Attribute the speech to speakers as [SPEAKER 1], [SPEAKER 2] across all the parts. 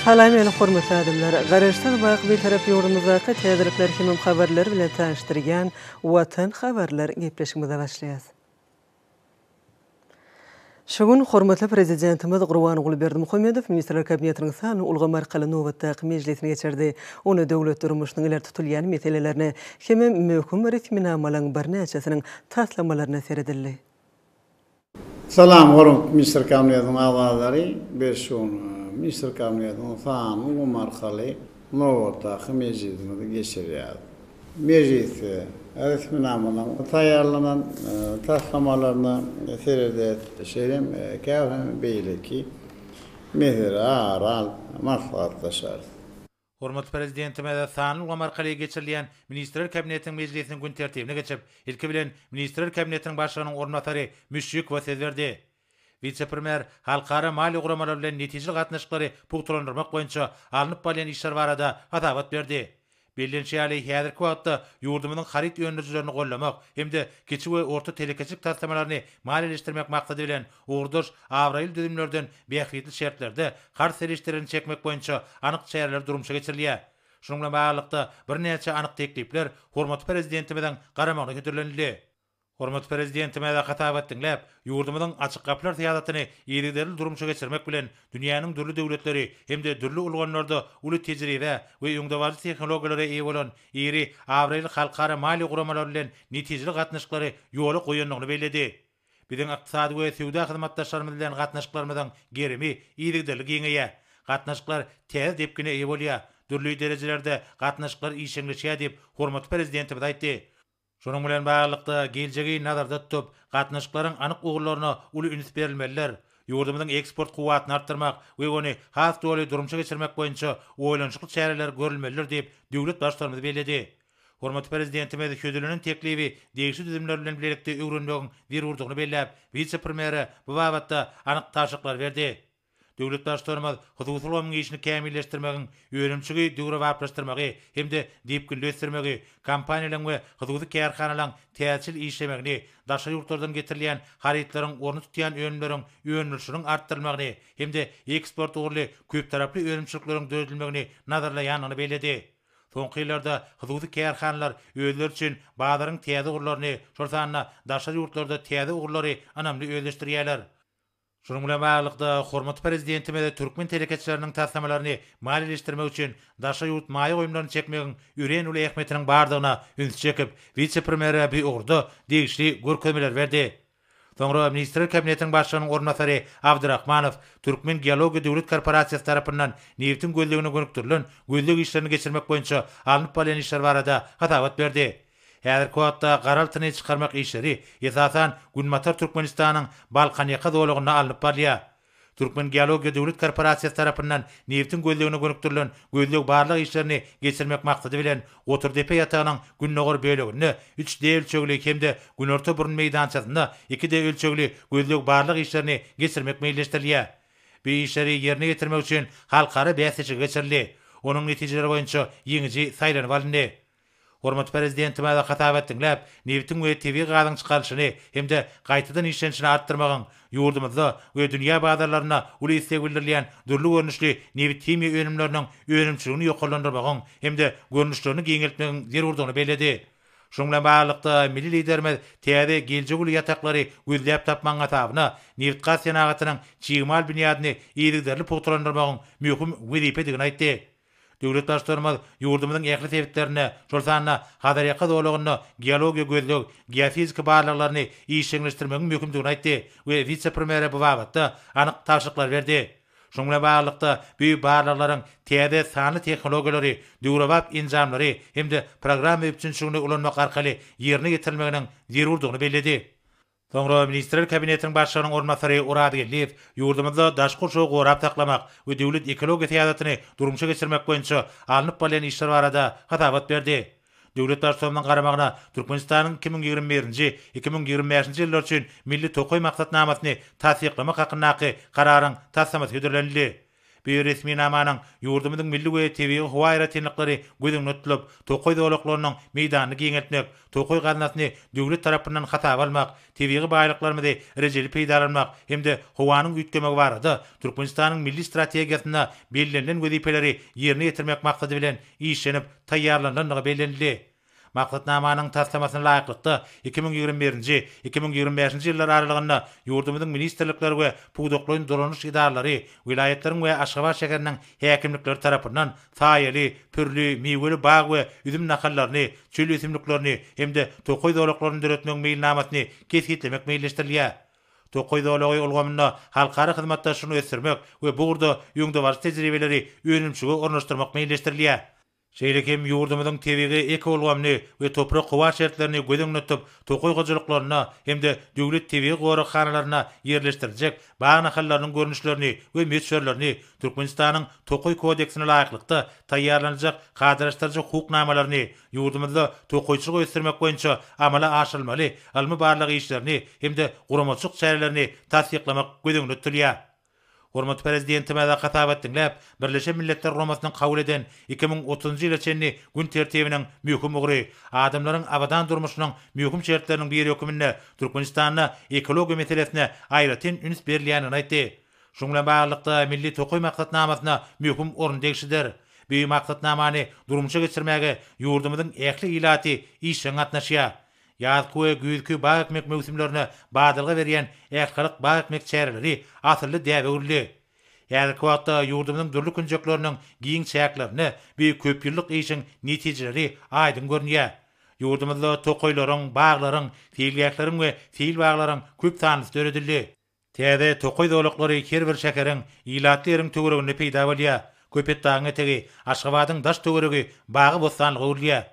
[SPEAKER 1] Salam meni hormatly adamlar! Garaşsyz bak Bitarap ýurdumyzdaky täzelikler hemem habarlar bilen tanyşdyrýan Watan habarlar gepleşigimize başlaýas. Şu gün hormatly Prezidentimiz Gurbanguly Berdimuhamedow Ministrler Kabinetiniň sanly ulgam arkaly nobatdaky mejlisini geçirdi. Onda döwlet durmuşynyň ileri tutulýan meselelerine hem-ä möhüm resminamalaryň birnäçesiniň taslamalaryna seredildi.
[SPEAKER 2] Salam, hormatly Ministrler Kabinetiniň agzalary! Biz şu gün Ministrler Kabinetiniň sanly ulgam arkaly nobatdaky mejlisimizi geçirýäris. Mejlisde resminamalaryň taýýarlanan taslamalaryna seredýäris, şeýle hem käbir beýleki meseleleri ara alyp maslahatlaşarys. Hormatly
[SPEAKER 3] Prezidentimiz sanly ulgam arkaly geçirilýän Ministrler Kabinetiniň mejlisiniň gün tertibine geçip, ilki bilen, Ministrler Kabinetiniň Başlygynyň orunbasary Müşşikowa söz berdi. Wise-premýer halkara maliýe guramalary bilen netijeli gatnaşyklary pugtalandyrmak boýunça alnyp barylýan işler barada hasabat berdi. Bellenişi ýaly, häzirki wagtda ýurdumyzyň haryt öndürijilerini gollamak hem-de kiçi we orta telekeçilik taslamalaryny maliýeleşdirmek maksady bilen, ugurdaş abraýly düzümlerden bähbitli şertlerde karz serişdelerini çekmek boýunça anyk çäreler durmuşa geçirilýär. Şunuň bilen baglylykda, birnäçe anyk teklipler hormatly Prezidentimiziň garamagyna hödürlenildi. Hormatly Prezidentimize hasabat diňläp, ýurdumyzyň Açyk gapylar syýasatyny yzygiderli durmuşa geçirmek bilen, dünýäniň dürli döwletleri hem-de dürli ulgamlarda uly tejribä we öňdebaryjy tehnologiýalara eýe bolan iri, abraýly halkara maliýe guramalary bilen netijeli gatnaşyklary ýola goýandygyny belledi. Biziň ykdysady we söwda hyzmatdaşlarymyz bilen gatnaşyklarymyzyň gerimi yzygiderli giňeýär. Gatnaşyklar täze depgine eýe bolýar, dürli derejelerde gatnaşyklar işjeňleşýär diýip, hormatly Prezidentimiz aýtdy. Şunuň bilen baglylykda, geljegi nazarda tutup, gatnaşyklaryň anyk ugurlaryna uly üns berilmelidir. Ýurdumyzyň eksport kuwwatyny artdyrmak we ony has doly durmuşa geçirmek boýunça oýlanyşykly çäreler görülmelidir diýip, döwlet Baştutanymyz belledi. Hormatly Prezidentimiz hödürlenen teklibi degişli düzümler bilen bilelikde öwrenmegiň zerurdygyny belläp, wise-premýere bu babatda anyk tabşyryklary berdi. Döwlet Baştutanymyz hususy ulgamyň işini kämilleşdirmegiň, önümçigi döwrebaplaşdyrmagy hem-de depginli ösdürmegi, kompaniýalaryň we hususy kärhanalaryň täjirçil işlemegini, daşary ýurtlardan getirilýän harytlaryň orny tutýan önümleriň öndürilişiniň artdyrylmagyny hem-de eksport ugurly köptaraply önümçilikleriň döredilmegini nazarlaýandygyny belledi. Soňky ýyllarda hususy kärhanalar özleri üçin bazaryň täze ugurlaryny, şol sanda daşary ýurtlarda täze ugurlary ynamly özleşdirýärler. Şunuň bilen baglylykda, hormatly Prezidentimiz türkmen telekeçileriniň taslamalaryny maliýeleşdirmek üçin daşary ýurt maýa goýumlaryny çekmegiň örän uly ähmiýetiniň bardygyna ünsi çekip, wise-premýere bu ugurda degişli görkezmeleri berdi. Soňra Ministrler Kabinetiniň Başlygynyň orunbasary Abdyrahmanow Türkmen geologiýa döwlet korporasiýasy tarapyndan nebitiň gözlegine gönükdirilen gözleg işlerini geçirmek boýunça alnyp barylýan işler barada hasabat berdi. Häzirki wagtda gar altyny çykarmak işleri, esasan, Günbatar Türkmenistanyň Balkanýaka zolagynda alnyp barylýar. Türkmengeologiýa döwlet korporasiýasy tarapyndan nebitiň gözlegine gönükdirilen gözleg-barlag işlerini geçirmek maksady bilen Goturdepe ýatagynyň gündogar böleginde üç D ölçegli hem-de Günorta burun meýdançasynda iki D ölçegli gözleg-barlag işlerini geçirmek meýilleşdirilýär. Bu işleri ýerine ýetirmek üçin halkara bäsleşigi geçirildi. Onuň netijeleri boýunça ýeňiji saýlanyp alyndy. Hormatly Prezidentimize hasap etdiňläp, nebitiň we tebigy gazyň çykarylyşyny hem-de gaýtadan işlenişini artdyrmagyň, ýurdumyzda we dünýä bazarlarynda uly isleg bildirilýän dürli görnüşli nebit-himiýa önümleriniň önümçiligini ýokarlandyrmagyň hem-de görnüşlerini giňeltmegiň zerurdygyny belledi. Şunuň bilen baglylykda, milli Liderimiz täze geljek uly ýataklary gözläp tapmagyň hasabyna nebitgaz senagatynyň çig mal binýadyny yzygiderli pugtalandyrmagyň möhüm wezipedigini aýtdy. Döwlet Baştutanymyz ýurdumyzyň ähli sebitlerinde, şol sanda Hazarýaka zolagynda geologiýa gözleg, geofiziki barlaglaryny işjeňleşdirmegiň möhümdigini aýtdy we wise-premýere bu babatda anyk tabşyryklar berdi. Şunuň bilen baglylykda, bu barlaglaryň täze sanly tehnologiýalary, döwrebap enjamlary hem-de programma üpjünçiligini ulanmak arkaly ýerine ýetirilmeginiň zerurdygyny belledi. Soňra Ministrler Kabinetiniň Başlygynyň orunbasary Oraz Geldiýew ýurdumyzda daşky gurşawy gorap saklamak we döwlet ekologiýa syýasatyny durmuşa geçirmek boýunça alnyp barylýan işler barada hasabat berdi. Döwlet Baştutanymyzyň garamagyna Türkmenistanyň iki müň ýigrimi birinji, iki müň ýigrimi bäşinji ýyllar üçin Milli tokaý maksatnamasyny tassyklamak hakyndaky Kararyň taslamasy hödürlenildi. Bu resminamanyň ýurdumyzyň milli we tebigy howa aýratynlyklary göz öňünde tutulyp, tokaý zolaklarynyň meýdanyny giňeltmek, tokaý gaznasyny döwlet tarapyndan hasaba almak, tebigy baýlyklarymyzy rejeli peýdalanmak hem-de howanyň üýtgemegi barada Türkmenistanyň milli strategiýasynda bellenilen wezipeleri ýerine ýetirmek maksady bilen işlenip taýýarlanylandygy bellenildi. Maksatnamanyň taslamasyna laýyklykda, iki müň ýigrimi birinji, iki müň ýigrimi bäşinji ýyllar aralygynda ýurdumyzyň ministrlikleri we pudaklaýyn dolanyş edaralary, welaýatlaryň we Aşgabat şäheriniň häkimlikleri tarapyndan saýaly, pürli, miweli bag we üzüm nahallaryny, çöl ösümliklerini hem-de tokaý zolaklaryny döretmegiň meýilnamasyny kesgitlemek meýilleşdirilýär. Tokaý zolagy ulgamynda halkara hyzmatdaşlygyny ösdürmek we bu ugurda öňdebaryjy tejribeleri önümçilige ornaşdyrmak meýilleşdirilýär. Şeýle hem ýurdumyzyň tebigy ekoulgamyny we toprak-howa şertlerini göz öňünde tutup, tokaý hojalyklarynda hem-de döwlet tebigy goraghanalarynda ýerleşdiriljek bag nahallarynyň görnüşlerini we möçberlerini Türkmenistanyň Tokaý kodeksine laýyklykda taýýarlanyljak kadalaşdyryjy hukuk namalaryny ýurdumyzda tokaýçylygy ösdürmek boýunça amala aşyrylmaly ylmy-barlag işlerini hem-de guramaçylyk çärelerini tassyklamak göz öňünde tutulýar. Hormatly Prezidentimize hasap et diňläp, Birleşen Milletler Guramasynyň kabul eden iki müň otuzynjy ýyla çenli gün tertibiniň möhüm ugry, adamlaryň abadan durmuşynyň möhüm şertleriniň biri höküminde Türkmenistanda ekologiýa meselesine aýratyn üns berilýändigini aýtdy. Şunuň bilen baglylykda, Milli tokaý maksatnamasyna möhüm orun degişlidir. Bu maksatnamany durmuşa geçirmäge ýurdumyzyň ähli ilaty işjeň gatnaşýar. Ýazky we güýzki bag ekmek möwsümlerine badalga berýän ählihalk bag ekmek çäreleri asylly däbe öwrüldi. Häzirki wagtda ýurdumyzyň dürli künjekleriniň giň çäklerinde bu köpýyllyk işiň netijeleri aýdyň görünýär. Ýurdumyzda tokaýlaryň, baglaryň, seýilgähleriň we seýilbaglaryň köp sanlysy döredildi. Täze tokaý zolaklary her bir şäheriň, ilatly ýeriň töwereginde peýda bolýar. Köpetdagyň etegi, Aşgabadyň daş-töweregi bagy-bossanlyga öwrülýär.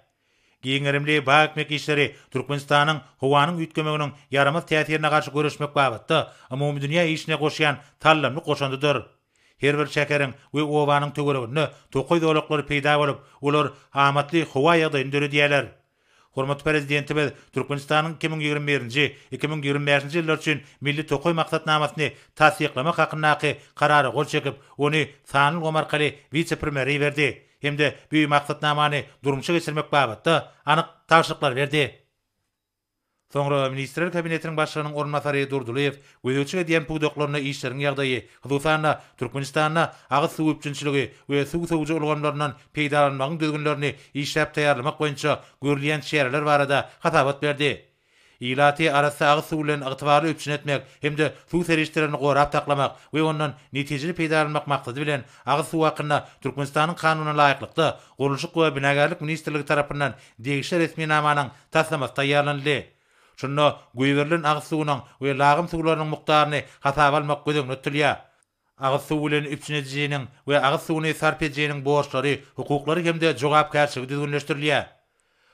[SPEAKER 3] Giň gerimli bag ekmek işleri Türkmenistanyň howanyň üýtgemeginiň ýaramaz täsirine garşy göreşmek babatda umumydünýä işine goşýan saldamly goşandydyr. Her bir şäheriň we obanyň töwereginde tokaý zolaklary peýda bolup, olar amatly howa ýagdaýyny döredýärler. Hormatly Prezidentimiz Türkmenistanyň iki müň ýigrimi birinji, iki müň ýigrimi bäşinji ýyllar üçin Milli tokaý maksatnamasyny tassyklamak hakyndaky Karara gol çekip, ony sanly ulgam arkaly wise-premýere iberdi hem-de bu Maksatnamany durmuşa geçirmek babatda anyk tabşyryklary berdi. Soňra Ministrler Kabinetiniň Başlygynyň orunbasary Durdylyýew gözegçilik edýän pudaklarynda işleriň ýagdaýy, hususan-da, Türkmenistanda agyz suw üpjünçiligi we suw sowujy ulgamlaryndan peýdalanmagyň düzgünlerini işläp taýýarlamak boýunça görülýän çäreler barada hasabat berdi. Ilaty arassa agyz suw bilen ygtybarly üpjün etmek hem-de suw serişdelerini gorap saklamak we ondan netijeli peýdalanmak maksady bilen, agyz suw hakynda Türkmenistanyň Kanunyna laýyklykda, Gurluşyk we binagärlik ministrligi tarapyndan degişli resminamanyň taslamasy taýýarlanyldy. Şunda goýberilen agyz suwunyň we lagym suwlarynyň mukdaryny hasaba almak göz öňünde tutulýar. Agyz suwy bilen üpjün edijiniň we agyz suwuny sarp edijiniň borçlary, hukuklary hem-de jogapkärçiligi düzgünleşdirilýär.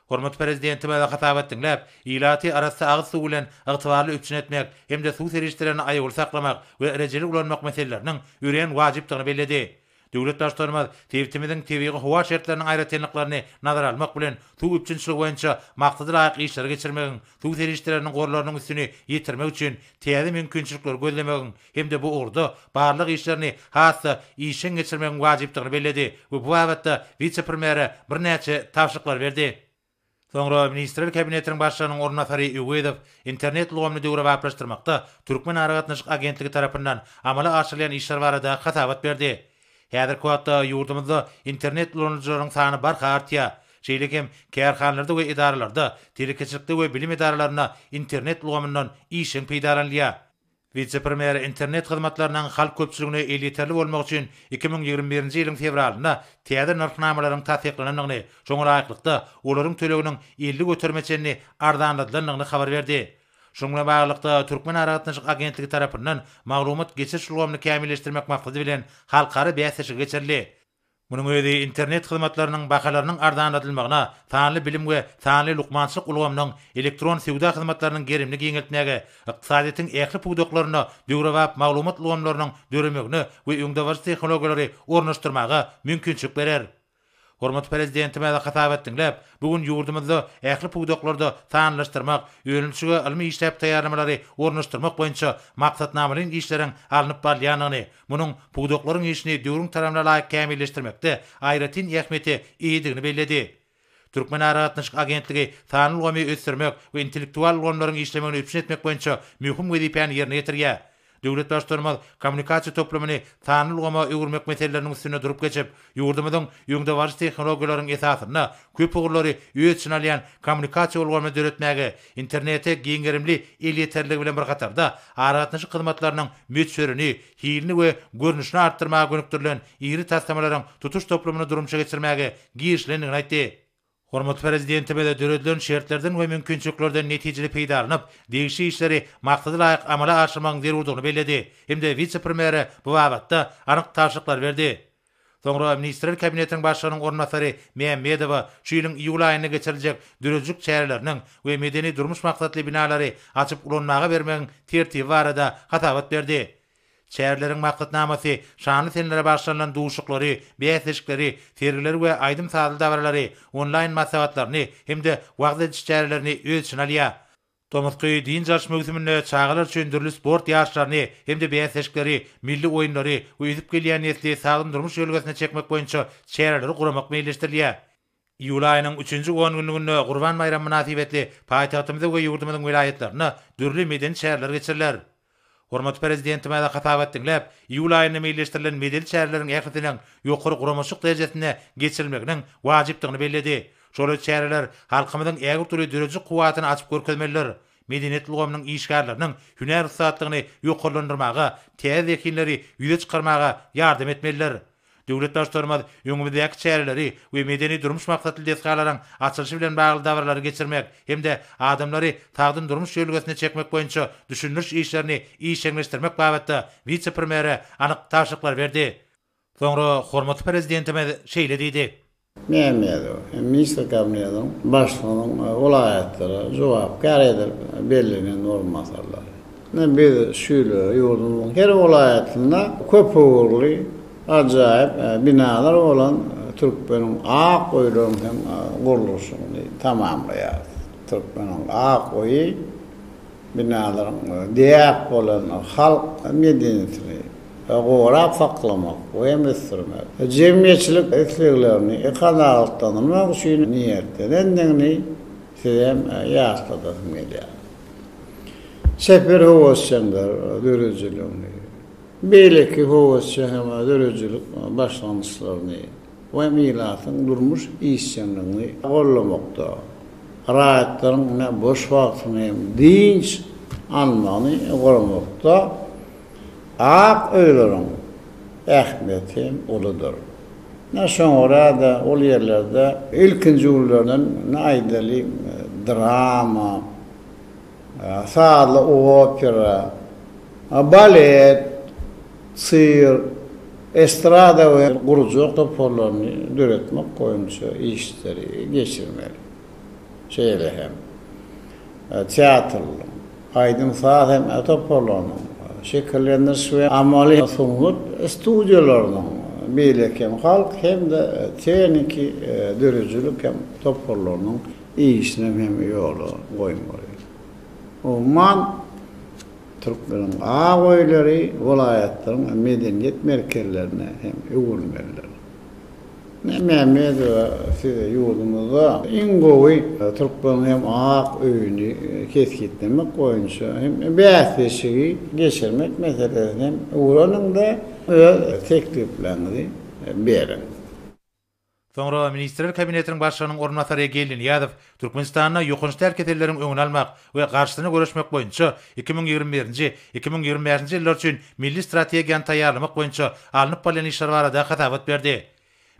[SPEAKER 3] Hormatly Prezidentimize hasabat diňläp, ilaty arassa agyz suwy bilen ygtybarly üpjün etmek hem-de suw serişdelerini aýawly saklamak we rejeli ulanmak meseleleriniň örän wajypdygyny belledi. Döwlet Baştutanymyz sebitimiziň tebigy-howa şertleriniň aýratynlyklaryny nazara almak bilen, suw üpjünçiligi boýunça maksada laýyk işleri geçirmegiň, suw serişdeleriniň gorlarynyň üstüni ýetirmek üçin täze mümkinçilikleri gözlemegiň hem-de bu ugurda barlag işlerini has-da işjeň geçirmegiň wajypdygyny belledi we bu babatda wise-premýere birnäçe tabşyryklary berdi. Soňra Ministrler Kabinetiniň Başlygynyň orunbasary Öwezow Internet ulgamyny döwrebaplaşdyrmakda Türkmen aragatnaşyk agentligi tarapyndan amala aşyrylýan işler barada hasabat berdi. Häzirki wagtda ýurdumyzda Internet ulanyjylarynyň sany barha artýar. Şeýle hem kärhanalarda we edaralarda, telekeçilikde we bilim edaralarynda Internet ulgamyndan işjeň peýdalanylýar. Wise-premýer internet hyzmatlarynyň halk köpçüligine elýeterli bolmagy üçin iki müň ýigrimi birinji ýylyň fewralynda täze nyrhnamalaryň tassyklanandygyny, şoňa laýyklykda, olaryň töleginiň elli göterime çenli arzanladylandygyny habar berdi. Şunuň bilen baglylykda, Türkmenaragatnaşyk agentligi tarapyndan maglumat geçiriş ulgamyny kämilleşdirmek maksady bilen halkara bäsleşigi geçirildi. Munuň özi internet hyzmatlarynyň bahalarynyň arzanladylmagyna, sanly bilim we sanly lukmançylyk ulgamynyň, elektron söwda hyzmatlarynyň gerimini giňeltmäge, ykdysadyýetiň ähli pudaklarynda döwrebap maglumat ulgamlarynyň döremegine we öňdebaryjy tehnologiýalary ornaşdyrmaga mümkinçilik berer. Hormatly Prezidentimiz hasabat diňläp, bu gün ýurdumyzda ähli pudaklarda sanlylaşdyrmak, önümçige ylmy işläp taýýarlamalary ornaşdyrmak boýunça maksatnamalaýyn işleriň alnyp barylýandygyny, Munuň pudaklaryň işini döwrüň talabna laýyk kämilleşdirmekde aýratyn ähmiýete eýedigini belledi. Türkmenaragatnaşyk agentligi sanly ulgamy ösdürmek we intellektual ulgamlaryň işlemegini üpjün etmek boýunça möhüm wezipäni ýerine ýetirýär. Döwlet Baştutanymyz kommunikasiýa toplumyny sanly ulgama öwürmek meseleleriniň üstünde durup geçip, ýurdumyzyň öňdebaryjy tehnologiýalaryň esasynda köp ugurlary öz içine alýan kommunikasiýa ulgamyny döretmäge Internete giň gerimli elýeterligi bilen bir hatarda, aragatnaşyk hyzmatlarynyň möçberini, hilini we görnüşini artdyrmaga gönükdirilen iri taslamalaryň tutuş toplumyny durmuşa geçirmäge girişilendigini aýtdy. Hormatly Prezidentimiz döredilen şertlerden we mümkinçiliklerden netijeli peýdalanyp, degişli işleri maksada laýyk amala aşyrmagyň zerurdygyny belledi hem-de wise-premýere bu babatda anyk tabşyryklary berdi. Soňra Ministrler Kabinetiniň Başlygynyň orunbasary Mämmedowa şu ýylyň iýul aýynda geçiriljek döredijilik çäreleriniň we medeni-durmuş maksatly binalary açyp ulanmaga bermegiň tertibi barada hasabat berdi. Çäreleriň maksatnamasy şanly senelere bagyşlanylan duşuklary, bäsleşikleri, sergileri we aýdym-sazly dabaralary, onlaýn maslahatlaryny hem-de wagyz ediş çärelerini öz içine alýar. Tomusky dynç alyş möwsüminde çagalar üçin dürli sport ýaryşlaryny hem-de bäsleşikleri, milli oýunlary we ösüp gelýän nesli sagdyn durmuş ýörelgesine çekmek boýunça çäreleri guramak meýilleşdirilýär. Iýul aýynyň üçünji ongünlüginde Gurban baýramy mynasybetli paýtagtymyzda we ýurdumyzyň welaýatlarynda dürli medeni çäreler geçiriler. Hormatly Prezidentimize hasabat diňläp, iýul aýynda meýilleşdirilen medeni çäreleriň ählisiniň ýokary guramaçylyk derejesinde geçirilmeginiň wajypdygyny belledi. Şoly çäreler halkymyzyň ägirt uly döredijilik kuwwatyny açyp görkezmelidir, medeniýet ulgamynyň işgärleriniň hünär ussatlygyny ýokarlandyrmaga, täze zehinleri ýüze çykarmaga ýardam etmelidir. Döwlet Baştutanymyz öňümizdäki çäreleri we medeni-durmuş maksatly desgalaryň açylyşy bilen bagly dabaralary geçirmek hem-de adamlary sagdyn durmuş ýörelgesine çekmek boýunça düşündiriş işlerini işjeňleşdirmek babatda wise-premýere anyk tabşyryklar berdi. Soňra hormatly Prezidentimiz şeýle diýdi. Mämmedow
[SPEAKER 2] hem Ministr Kabinetiniň Başlygynyň welaýatlara jogapkär edilip bellenen orunbasarlary. Ine, biz şu ýyl ýurdumyzyň her welaýatynda köpugurly, ajaýyp binalar bolan Türkmeniň ak öýleriň hem gurluşygyny tamamlaýarys. Türkmeniň ak öýi binalaryň däp bolan halk medeniýetini gorap saklamak we hem ösdürmek, jemgyýetçilik isleglerini kanagatlandyrmak üçin niýetlenendigini sizem ýatladasym gelýär. Çeper höwesjeňler döredijiligini, beýleki höwesjeň hem döredijilik başlangyçlaryny, Bu hem ilatyň durmuş işjeňligini goldamakda, raýatlaryň ine boş wagtyny hem dynç almagyny guramakda ak öýleriň ähmiýeti hem uludyr. Ine şoňa görä-de, ol ýerlerde ilkinji günlerden ine aýdalyň drama Sazly opera, balet, sirk, estrada we gurjak toparlaryny döretmek boýunça işleri geçirmeli. Şeýle hem teatrlaryň, aýdym-saz hem toparlarynyň, şekillendiriş we amaly sungat studiýalarynyň, beýleki hem halk hem-de tehniki döredijilik hem toparlarynyň, işinem hem ýola goýmaly. Umuman, türkmeniň ak öýleri welaýatlaryň medeniýet merkezlerine hem öwrülmelidir. Ine, Mämmedowa size ýurdumyzda iň gowy türkmeniň hem ak öýüni kesgitlemek boýunça hem bäsleşigi geçirmek meselesini hem öwreniň-de, öz teklipleňizi beriň.
[SPEAKER 3] Soňra Ministrler Kabinetiniň Başlygynyň orunbasary Egeldi Nyýazow Türkmenistanda ýokanç däl keselleriň öňüni almak we garşysyna göreşmek boýunça iki müň ýigrimi birinji, iki müň ýigrimi bäşinji ýyllar üçin milli strategiýany taýýarlamak boýunça alnyp barylýan işler barada hasabat berdi.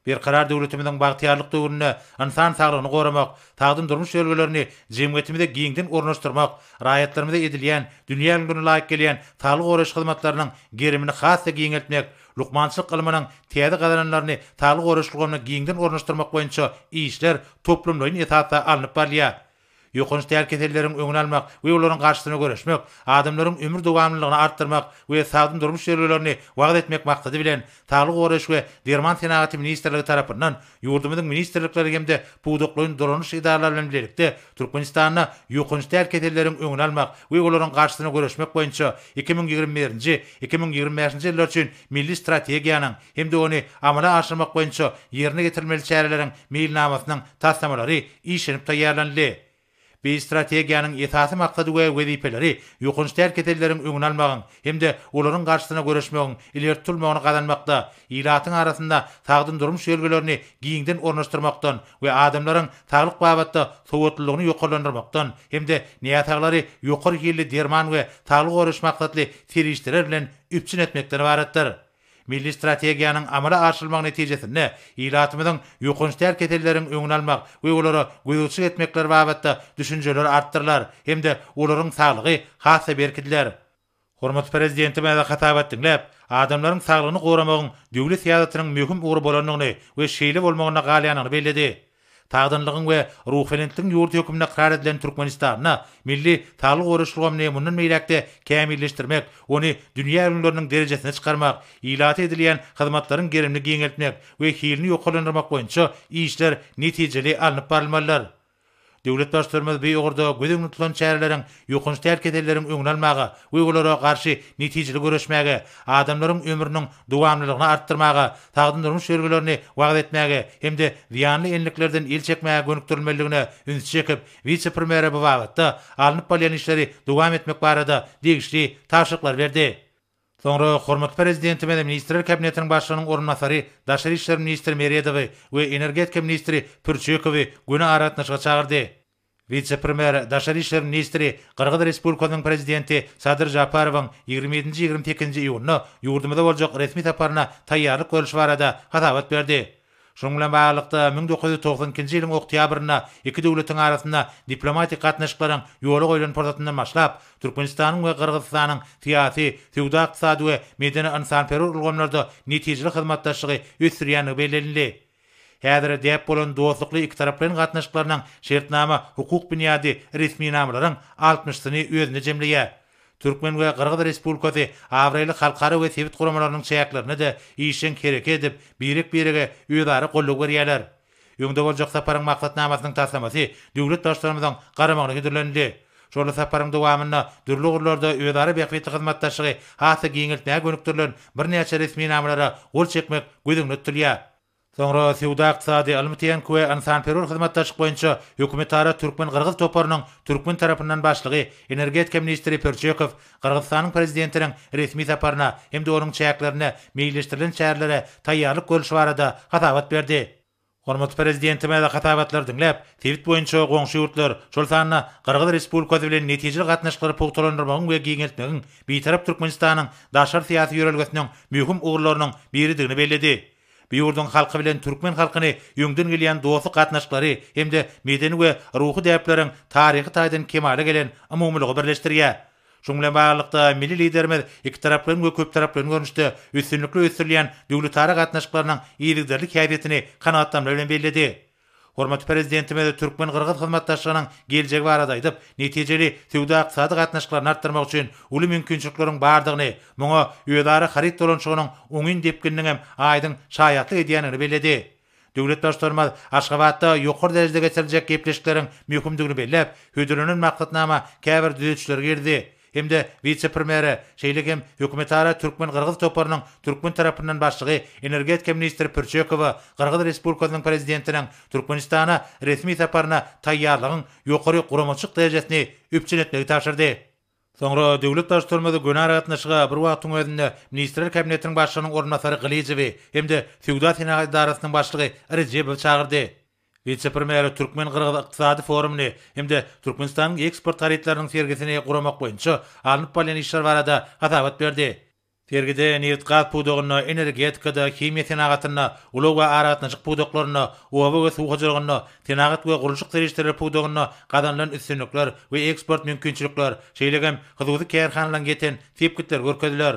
[SPEAKER 3] Berkarar döwletimiziň bagtyýarlyk döwründe ynsan saglygyny goramak, sagdyn durmuş ýörelgelerini jemgyýetimize giňden ornaşdyrmak, raýatlarymyza edilýän, dünýä ülňülerine laýyk gelýän saglygy goraýyş hyzmatlarynyň gerimini has-da giňeltmek, Lukmançylyk ylmynyň täze gazananlaryny saglygy goraýyş ulgamyna giňden ornaşdyrmak boýunça işler toplumlaýyn esasda alnyp barylýar. Ýokanç däl keselleriň öňüni almak we olaryň garşysyna göreşmek, adamlaryň ömür dowamlylygyny artdyrmak we sagdyn durmuş ýörelgelerini wagyz etmek maksady bilen, Saglygy goraýyş we derman senagaty ministrligi tarapyndan Ýurdumyzyň ministrlikleri hem-de pudaklaýyn dolanyş edaralary bilen bilelikde Türkmenistanda ýokanç däl keselleriň öňüni almak we olaryň garşysyna göreşmek boýunça iki müň ýigrimi birinji, iki müň ýigrimi bäşinji ýyllar üçin milli strategiýanyň hem-de ony amala aşyrmak boýunça ýerine ýetirilmeli çäreleriň meýilnamasynyň taslamalary işlenip taýýarlanyldy. Biz strategiýanyň esasy maksady we wezipeleri ýokanç däl keselleriň öňüni almagyň hem-de olaryň garşysyna göreşmegiň ileri tutulmagyny gazanmakda, ilatyň arasynda sagdyn durmuş ýörelgelerini giňden ornaşdyrmakdan we adamlaryň saglyk babatda sowatlylygyny ýokarlandyrmakdan hem-de näsaglary ýokary hilli derman we saglygy goraýyş maksatly serişdeler bilen üpjün etmekden ybaratdyr. Milli strategiýanyň amala aşyrylmagy netijesinde ilatymyzyň ýokanç däl keselleriň öňüni almak we olara gözegçilik etmekler babatda düşünjeler artdyrylar hem-de olaryň saglygy has-da berkidiler. Hormatly Prezidentimize hasabat diňläp, adamlaryň saglygyny goramagyň döwlet syýasatynyň möhüm ugry bolandygyny we şeýle bolmagynda galýandygyny belledi. Sagdynlygyň we ruhubelentligiň ýurdy hökmünde ykrar edilen Türkmenistanda milli saglyk goraýyş ulgamyny mundan beýläk-de kämilleşdirmek, ony dünýä ülňüleriniň derejesine çykarmak, ilata edilýän hyzmatlaryň gerimini giňeltmek we hilini ýokarlandyrmak boýunça işler netijeli alnyp barylmalydyr. Döwlet Baştutanymyz bu ugurda göz öňünde tutulan çäreleriň Ýokanç däl keselleriň öňüni almaga we olara garşy netijeli göreşmäge, adamlaryň ömrüniň dowamlylygyny artdyrmaga, sagdyn durmuş ýörgülerini wagyz etmäge hem-de zyýanly enliklerden el çekmäge gönükdirilmelidigine ünsi çekip, wise-premýere bu babatda alnyp barylýan işleri dowam etmek barada degişli tabşyryklary berdi. Soňra hormatly Prezidentimiz Ministrler Kabinetiniň Başlygynyň orunbasary, daşary işler ministri Meredowy we energetika ministri Pürçekowy göni aragatnaşyga çagyrdy. Wise-premýer, daşary işler ministri, Gyrgyz Respublikasynyň Prezidenti Sadyr Žaparowyň ýigrimi ýedinji, ýigrimi sekizinji iýunda ýurdumyza boljak resmi saparyna taýýarlyk görlüşi barada hasabat berdi. Şunuň bilen baglylykda, müň dokuz ýüz togsan ikinji ýylyň oktýabrynda iki döwletiň arasynda diplomatik gatnaşyklaryň ýola goýlan pursatyndan başlap, Türkmenistanyň we Gyrgyzystanyň syýasy, söwda-ykdysady we medeni-ynsanperwer ulgamlarda netijeli hyzmatdaşlygy ösdürýändigi bellenildi. Häzire däp bolan dostlukly ikitaraplaýyn gatnaşyklarynyň şertnama hukuk binýady resminamalaryň altmyşsyny özünde jemleýär. Türkmen we Gyrgyz Respublikasy abraýly halkara we sebit guramalarynyň çäklerinde-de işjeň hereket edip, birek-birege özara goldaw berýärler. Öňde boljak saparyň maksatnamasynyň taslamasy döwlet Baştutanymyzyň garamagyna hödürlenildi. Şol saparyň dowamynda dürli ugurlarda özara bähbitli hyzmatdaşlygy has-da giňeltmäge gönükdirilen birnäçe resminamalara gol çekmek göz öňünde tutulýar. Soňra Söwda-ykdysady, ylmy-tehniki we ynsanperwer hyzmatdaşlyk boýunça hökümetara türkmen-gyrgyz toparynyň türkmen tarapyndan başlygy, energetika ministri Pörçekow Gyrgyzystanyň Prezidentiniň resmi saparyna hem-de onuň çäklerinde meýilleşdirilen çärelere taýýarlyk görlüşi barada hasabat berdi. Hormatly Prezidentimize hasabatlary diňläp, sebit boýunça goňşy ýurtlar, şol sanda Gyrgyz Respublikasy bilen netijeli gatnaşyklary pugtalandyrmagyň we giňeltmegiň Bitarap Türkmenistanyň daşary syýasy ýörelgesiniň möhüm ugurlarynyň biridigini belledi. Bu ýurduň halky bilen türkmen halkyny öňden gelýän dostluk gatnaşyklary hem-de medeni we ruhy däpleriň taryhy taýdan kemala gelen umumylygy birleşdirýär. Şunuň bilen baglylykda, milli Liderimiz ikitaraplaýyn we köptaraplaýyn görnüşde üstünlikli ösdürilýän döwletara gatnaşyklarynyň yzygiderli häsiýetini kanagatlanma bilen belledi. Hormatly Prezidentimiz türkmen-gyrgyz hyzmatdaşlygynyň geljegi barada aýdyp, netijeli söwda-ykdysady gatnaşyklaryny artdyrmak üçin uly mümkinçilikleriň bardygyny, muňa özara haryt dolanyşygynyň oňyn depgininiň hem aýdyň şaýatlyk edýändigini belledi. Döwlet Baştutanymyz Aşgabatda ýokary derejede geçiriljek gepleşikleriň möhümdigini belläp, hödürlenen maksatnama käbir düzetişleri girizdi hem-de wise-premýere, şeýle hem hökümetara türkmen-gyrgyz toparynyň türkmen tarapyndan başlygy energetika ministri Pürçekowa Gyrgyz Respublikasynyň Prezidentiniň Türkmenistana resmi saparyna taýýarlygyň ýokary guramaçylyk derejesini üpjün etmegi tabşyrdy. Soňra Döwlet Baştutanymyz göni aragatnaşyga bir wagtyň özünde Ministrler Kabinetiniň Başlygynyň orunbasary Gylyjowy hem-de Söwda-senagat edarasynyň başlygy Rejebowy çagyrdy. Wise-premýer türkmen-gyrgyz ykdysady forumyny hem-de Türkmenistanyň eksport harytlarynyň sergisini guramak boýunça alnyp barylýan işler barada hasabat berdi. Sergide nebit-gaz pudagynda, energetikada, himiýa senagatynda, ulag we aragatnaşyk pudaklarynda, oba we suw hojalygynda, senagat we gurluşyk serişdeleri pudagynda gazanylan üstünlikler we eksport mümkinçilikler, şeýle hem hususy kärhanalaryň ýeten sepgitleri görkeziler.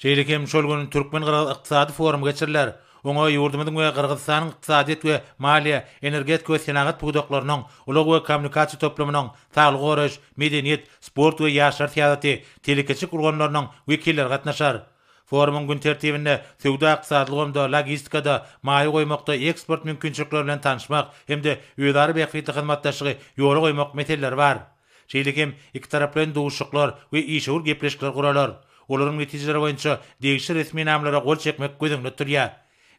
[SPEAKER 3] Şeýle hem şol gün türkmen-gyrgyz ykdysady forumy geçiriler. Oňa ýurdumyzyň we Gyrgyzystanyň ykdysadyýet we maliýe, energetika we senagat pudaklarynyň, ulag we kommunikasiýa toplumynyň, Saglygy goraýyş, medeniýet, sport we ýaşlar syýasaty, telekeçilik ulgamlarynyň wekilleri gatnaşar. Forumyň gün tertibinde söwda-ykdysady ulgamda, logistikada, maýa goýmakda eksport mümkinçilikleri bilen tanyşmak hem-de özara bähbitli hyzmatdaşlygy ýola goýmak meseleleri bar. Şeýle hem ikitaraplaýyn duşuşyklar we işewür gepleşikler guralar. Olaryň netijeleri boýunça degişli resminamalara gol çekmek göz öňünde tutulýar.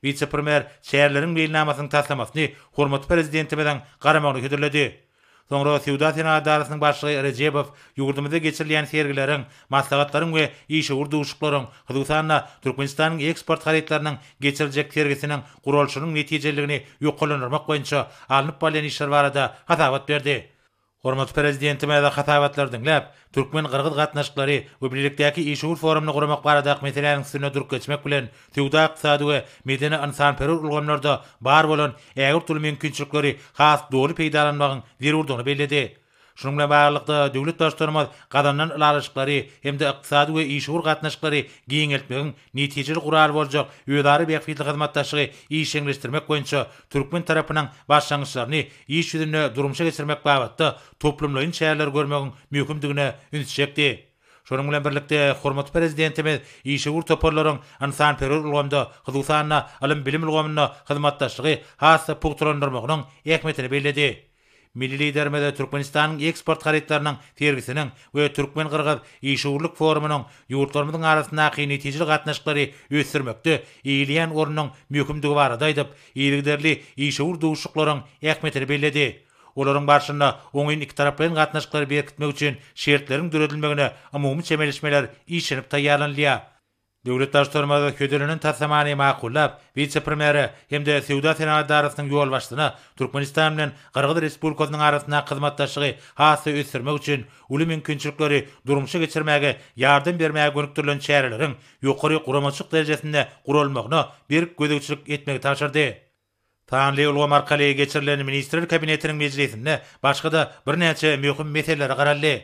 [SPEAKER 3] Wise-premýer çäreleriň meýilnamasynyň taslamasyny hormatly Prezidentimiziň garamagyna hödürledi. Soňra Söwda-senagat edarasynyň başlygy Rejebow ýurdumyzda geçirilýän sergileriň, maslahatlaryň we işewür duşuşyklaryň, hususan-da, Türkmenistanyň eksport harytlarynyň geçiriljek sergisiniň guralyşynyň netijeliligini ýokarlandyrmak boýunça alnyp barylýan işler barada hasabat berdi. Hormatly Prezidentimiz hasabatlary diňläp, türkmen-gyrgyz gatnaşyklary we bilelikdäki işewür forumyny guramak baradaky meseläniň üstünde durup geçmek bilen, söwda-ykdysady we medeni-ynsanperwer ulgamlarda bar bolan ägirt uly mümkinçilikleri has doly peýdalanmagyň zerurdygyny belledi. Şunuň bilen baglylykda, döwlet Baştutanymyz gazanylan ylalaşyklary hem-de ykdysady we işewür gatnaşyklary giňeltmegiň netijeli gural boljak özara bähbitli hyzmatdaşlygy işjeňleşdirmek boýunça türkmen tarapynyň başlangyçlaryny iş ýüzünde durmuşa geçirmek babatda toplumlaýyn çäreleri görmegiň möhümdigine üns çekdi. Şonuň bilen birlikde, hormatly Prezidentimiz işewür toparlaryň ynsanperwer ulgamda, hususan-da, ylym-bilim ulgamynda hyzmatdaşlygy has-da pugtalandyrmagynyň ähmiýetini belledi. Milli Liderimiz Türkmenistanyň eksport harytlarynyň sergisiniň we türkmen-gyrgyz işewürlik forumynyň ýurtlarymyzyň arasyndaky netijeli gatnaşyklary ösdürmekde eýeleýän ornunyň möhümdigi barada aýdyp, yzygiderli işewür duşuşyklaryň ähmiýetini belledi. Olaryň barşynda oňyn ikitaraplaýyn gatnaşyklary berkitmek üçin şertleriň döredilmegine umumy çemeleşmeler işlenip taýýarlanylýar. Döwlet Baştutanymyz hödürlenen taslamany makullap, wise-premýere hem-de Söwda-senagat edarasynyň ýolbaşçysyna Türkmenistan bilen Gyrgyz Respublikasynyň arasyndaky hyzmatdaşlygy has-da ösdürmek üçin uly mümkinçilikleri durmuşa geçirmäge ýardam bermäge gönükdirilen çäreleriň ýokary guramaçylyk derejesinde guralmagyna berk gözegçilik etmegi tabşyrdy. Sanly ulgam arkaly geçirilen Ministrler Kabinetiniň mejlisinde başga-da birnäçe möhüm meselelere garaldy.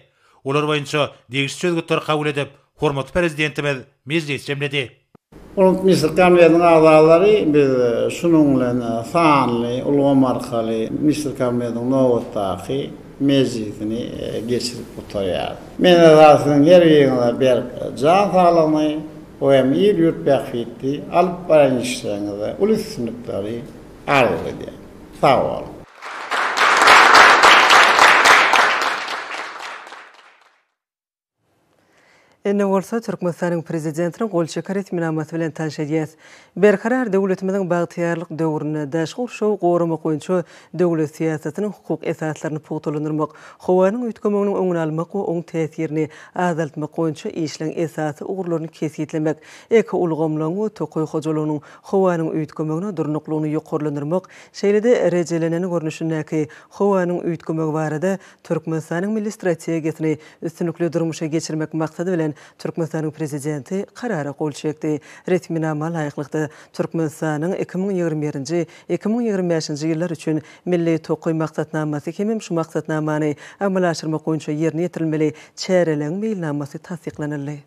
[SPEAKER 3] Olar boýunça degişli çözgütleri kabul edip, hormatly Prezidentimiz mejlis jemledi. Ulg Ministrler
[SPEAKER 2] Kabinetiniň agzalary biz şunuň bilen sanly ulgam arkaly Ministrler Kabinetiniň nobatdaky mejlisini geçirip gutarýarys. Men-de siziň her biriňize berk jan saglygyny, Bu hem il-ýurt bähbitli alyp baran işleriňizde uly üstünlikleri arzuw edýän. Sag boluň!
[SPEAKER 1] Indi bolsa Türkmenistanyň Prezidentiniň gol çeken resminamasy bilen tanyş edýäs. Berkarar döwletimiziň bagtyýarlyk döwründe daşky gurşawy goramak boýunça döwlet syýasatynyň hukuk esaslaryny pugtalandyrmak, howanyň üýtgemeginiň öňüni almak we oň täsirini azaltmak boýunça işleň esasy ugurlaryny kesgitlemek, ekoulgamlaryň we tokaý hojalygynyň howanyň üýtgemegine durnuklylygyny ýokarlandyrmak, şeýle-de rejelenen görnüşindäki howanyň üýtgemegi barada Türkmenistanyň Milli strategiýasyny üstünlikli durmuşa geçirmek maksady bilen Türkmenistanyň Prezidenti Karara gol çekdi. Resminama laýyklykda, Türkmenistanyň iki müň ýigrimi birinji, iki müň ýigrimi bäşinji ýyllar üçin Milli tokaý maksatnamasy hem-hem şu maksatnamany amala aşyrmak boýunça ýerine ýetirilmeli çäreleriň meýilnamasy tassyklanyldy.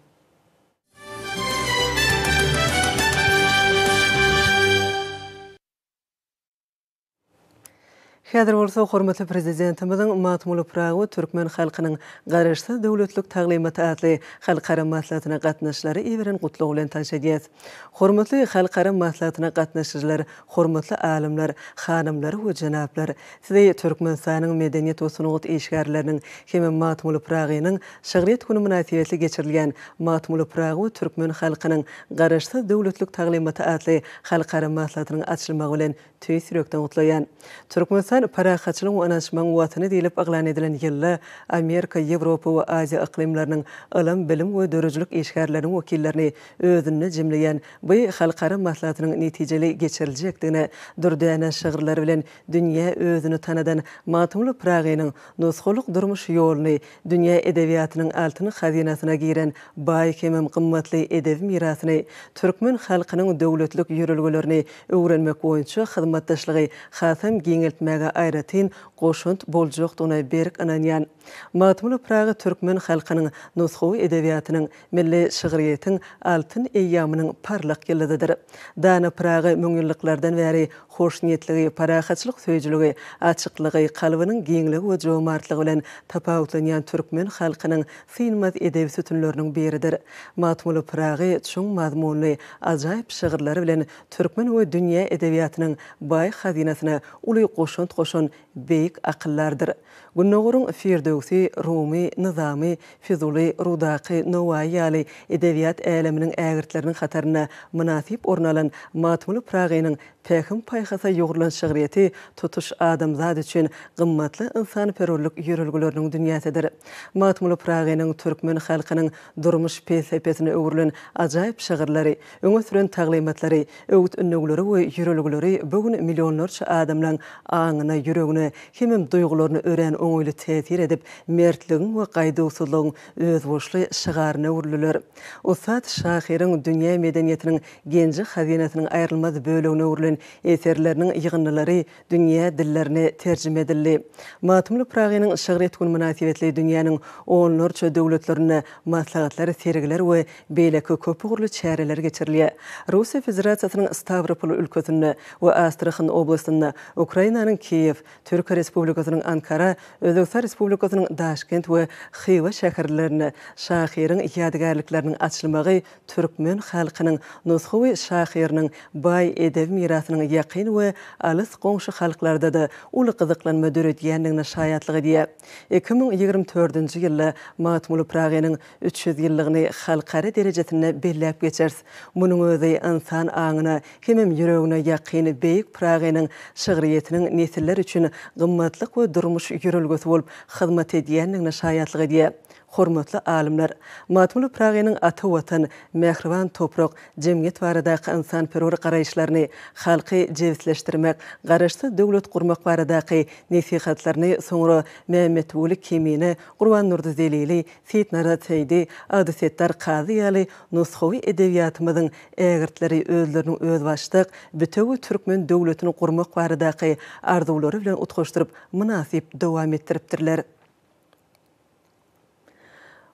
[SPEAKER 1] Häzir bolsa hormatly Prezidentimiziň Magtymguly Pyragy türkmen halkynyň Garaşsyz döwletlik taglymaty atly halkara maslahatyna gatnaşyjylara iberen gutlagy bilen tanyş edýäs. Hormatly halkara maslahatyna gatnaşyjylar, hormatly alymlar, hanymlar we jenaplar! Sizi Türkmenistanyň medeniýet we sungat işgärleriniň hem-ä Magtymguly Pyragynyň şygryýet güni mynasybetli geçirilýän Magtymguly Pyragy we türkmen halkynyň Garaşsyz döwletlik taglymaty atly Halkara maslahatynyň açylmagy bilen tüýs ýürekden gutlaýan. Türkmenistan Parahatçylygyň we ynanyşmagyň Watany diýlip yglan edilen ýylda Amerika, Ýewropa we Aziýa yklymlarynyň ylym, bilim we döredijilik işgärleriniň wekillerini özünde jemleýän bu halkara maslahatynyň netijeli geçiriljekdigine dürdäne şygyrlary bilen dünýä özüni tanadan Magtymguly Pyragynyň nusgalyk durmuş ýoluny Dünýä edebiýatynyň altyn hazynasyna giren baý hemem gymmatly edebi mirasyny, türkmen halkynyň döwletlik ýörelgelerini öwrenmek boýunça hyzmatdaşlygy hasam giňeltmäge aýratyn goşant boljakdygyna berk ynanýan Magtymguly Pyragy türkmen halkynyň nusgawy edebiýatynyň Milli şygryýetiň altyn eýýamynyň parlak ýyldyzydyr. Dana Pyragy müňýyllyklardan bäri hoşniýetligi, parahatçylyk söýüjiligi, açyklygy, kalbynyň giňligi we jomartlygy bilen tapawutlanýan türkmen halkynyň synmaz edebi sütünleriniň biridir. Magtymguly Pyragy çuň mazmunly, ajaýyp şygyrlary bilen türkmen we dünýä edebiýatynyň baý hazynasyna uly goşant goşan beýik akyldardyr. Gündogaryň Firdöwsi, Rumy, Nyzamy, Fizuly, Rudaky, Nowaýy ýaly edebiýat äleminiň ägirtleriniň hatarynda mynasyp orun alan Magtymguly Pyragynyň pähim-paýhasa ýugrulan şygryýeti tutuş adamzat üçin gymmatly ynsanperwerlik ýörelgeleriniň dünýäsidir. Magtymguly Pyragynyň türkmen halkynyň durmuş pelsepesine öwrülen ajaýyp şygyrlary, Öňe süren taglymatlary, öwüt-ündewleri we ýörelgeleri bu gün millionlarça adamlaň aňyna, ýüregine hemem duýgularyna örän oňaýly täsir edip, mertligiň we gaýduwsyzlygyň özboluşly şygaryna öwrüldiler. Ussat şahyryň dünýä medeniýetiniň genji-hazynasynyň aýrylmaz bölegine öwrülen eserleriniň ýygyndylary dünýä dillerine terjime edildi. Magtymguly Pyragynyň şygyr etgüni mynasybetli dünýäniň onlarça döwletlerinde maslahatlar, sergiler we beýleki köpugurly çäreler geçirilýär. Russiýa Federasiýasynyň Stawropol ülkesinde we Astrahan oblastynda, Ukrainanyň Kiýew, Türkiýe Respublikasynyň Ankara, Özbegistan Respublikasynyň Daşkent we Hywa şäherlerinde şahyryň ýadygärlikleriniň açylmagy türkmen halkynyň nusgawy şahyrynyň baý edebi mirasynyň ýakyn we alys goňşy halklarda-da uly gyzyklanma döredýändigine şaýatlyk edýär. Iki müň ýigrimi dördünji ýylda Magtymguly Pyragynyň üç ýüz ýyllygyny halkara derejesinde belläp geçeris. Munuň özi ynsan aňyna hemem ýüregine ýakyn beýik Pyragynyň şygryýetiniň nesiller üçin gymmatlyk we durmuş ýörelgesi bolup hyzmat edýändigine şaýatlyk edýär. Hormatly alymlar, Magtymguly Pyragynyň ata Watan, mähriban toprak, jemgyýet baradaky ynsanperwer garaýyşlaryny, halky jebisleşdirmek, garaşsyz döwlet gurmak baradaky nesihatlaryny soňra Mämmetguly Kemine, Gurbannurdy Zelili, Seýitnarat Seýdi, Agdesetdar Kazy ýaly nusgawy edebiýatymyzyň ägirtleri özleriniň özbaşdak, bitewi türkmen döwletini gurmak baradaky arzuwlary bilen utgaşdyryp, mynasyp dowam etdiripdirler.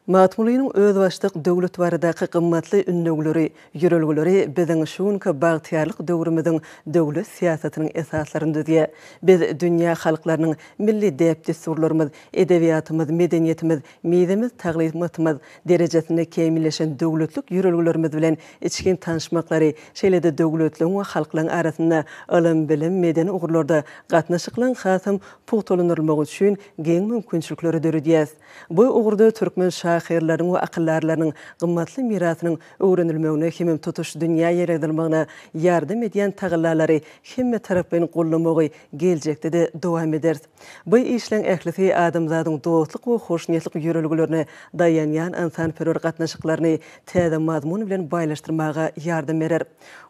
[SPEAKER 1] Magtymgulynyň özbaşdak döwlet baradaky gymmatly ündewleri, ýörelgeleri biziň şu günki bagtyýarlyk döwrümiziň döwlet syýasatynyň esaslaryny düzýär. Biz dünýä halklarynyň milli däp-dessurlarymyz, edebiýatymyz, medeniýetimiz, mizemiz, taglymatymyz derejesinde kämilleşen döwletlik ýörelgelerimiz bilen içgin tanyşmaklary, şeýle-de döwletleň we halklaryň arasynda ylym, bilim, medeni ugurlarda gatnaşyklaryň hasam pugtalandyrylmagy üçin giň mümkinçilikleri döredýär. Bu ugurda türkmen şahyrlarynyň we akyldarlarynyň gymmatly mirasynyň öwrenilmegine hemem tutuş dünýä ýaýradylmagyna ýardam edýän tagallalary hemmetaraplaýyn goldamagy geljekde-de dowam ederis. Bu işleriň ählisi adamzadyň dostluk we hoşniýetlik ýörelgelerine daýanýan ynsanperwer gatnaşyklaryny täze mazmun bilen baýlaşdyrmaga ýardam berer.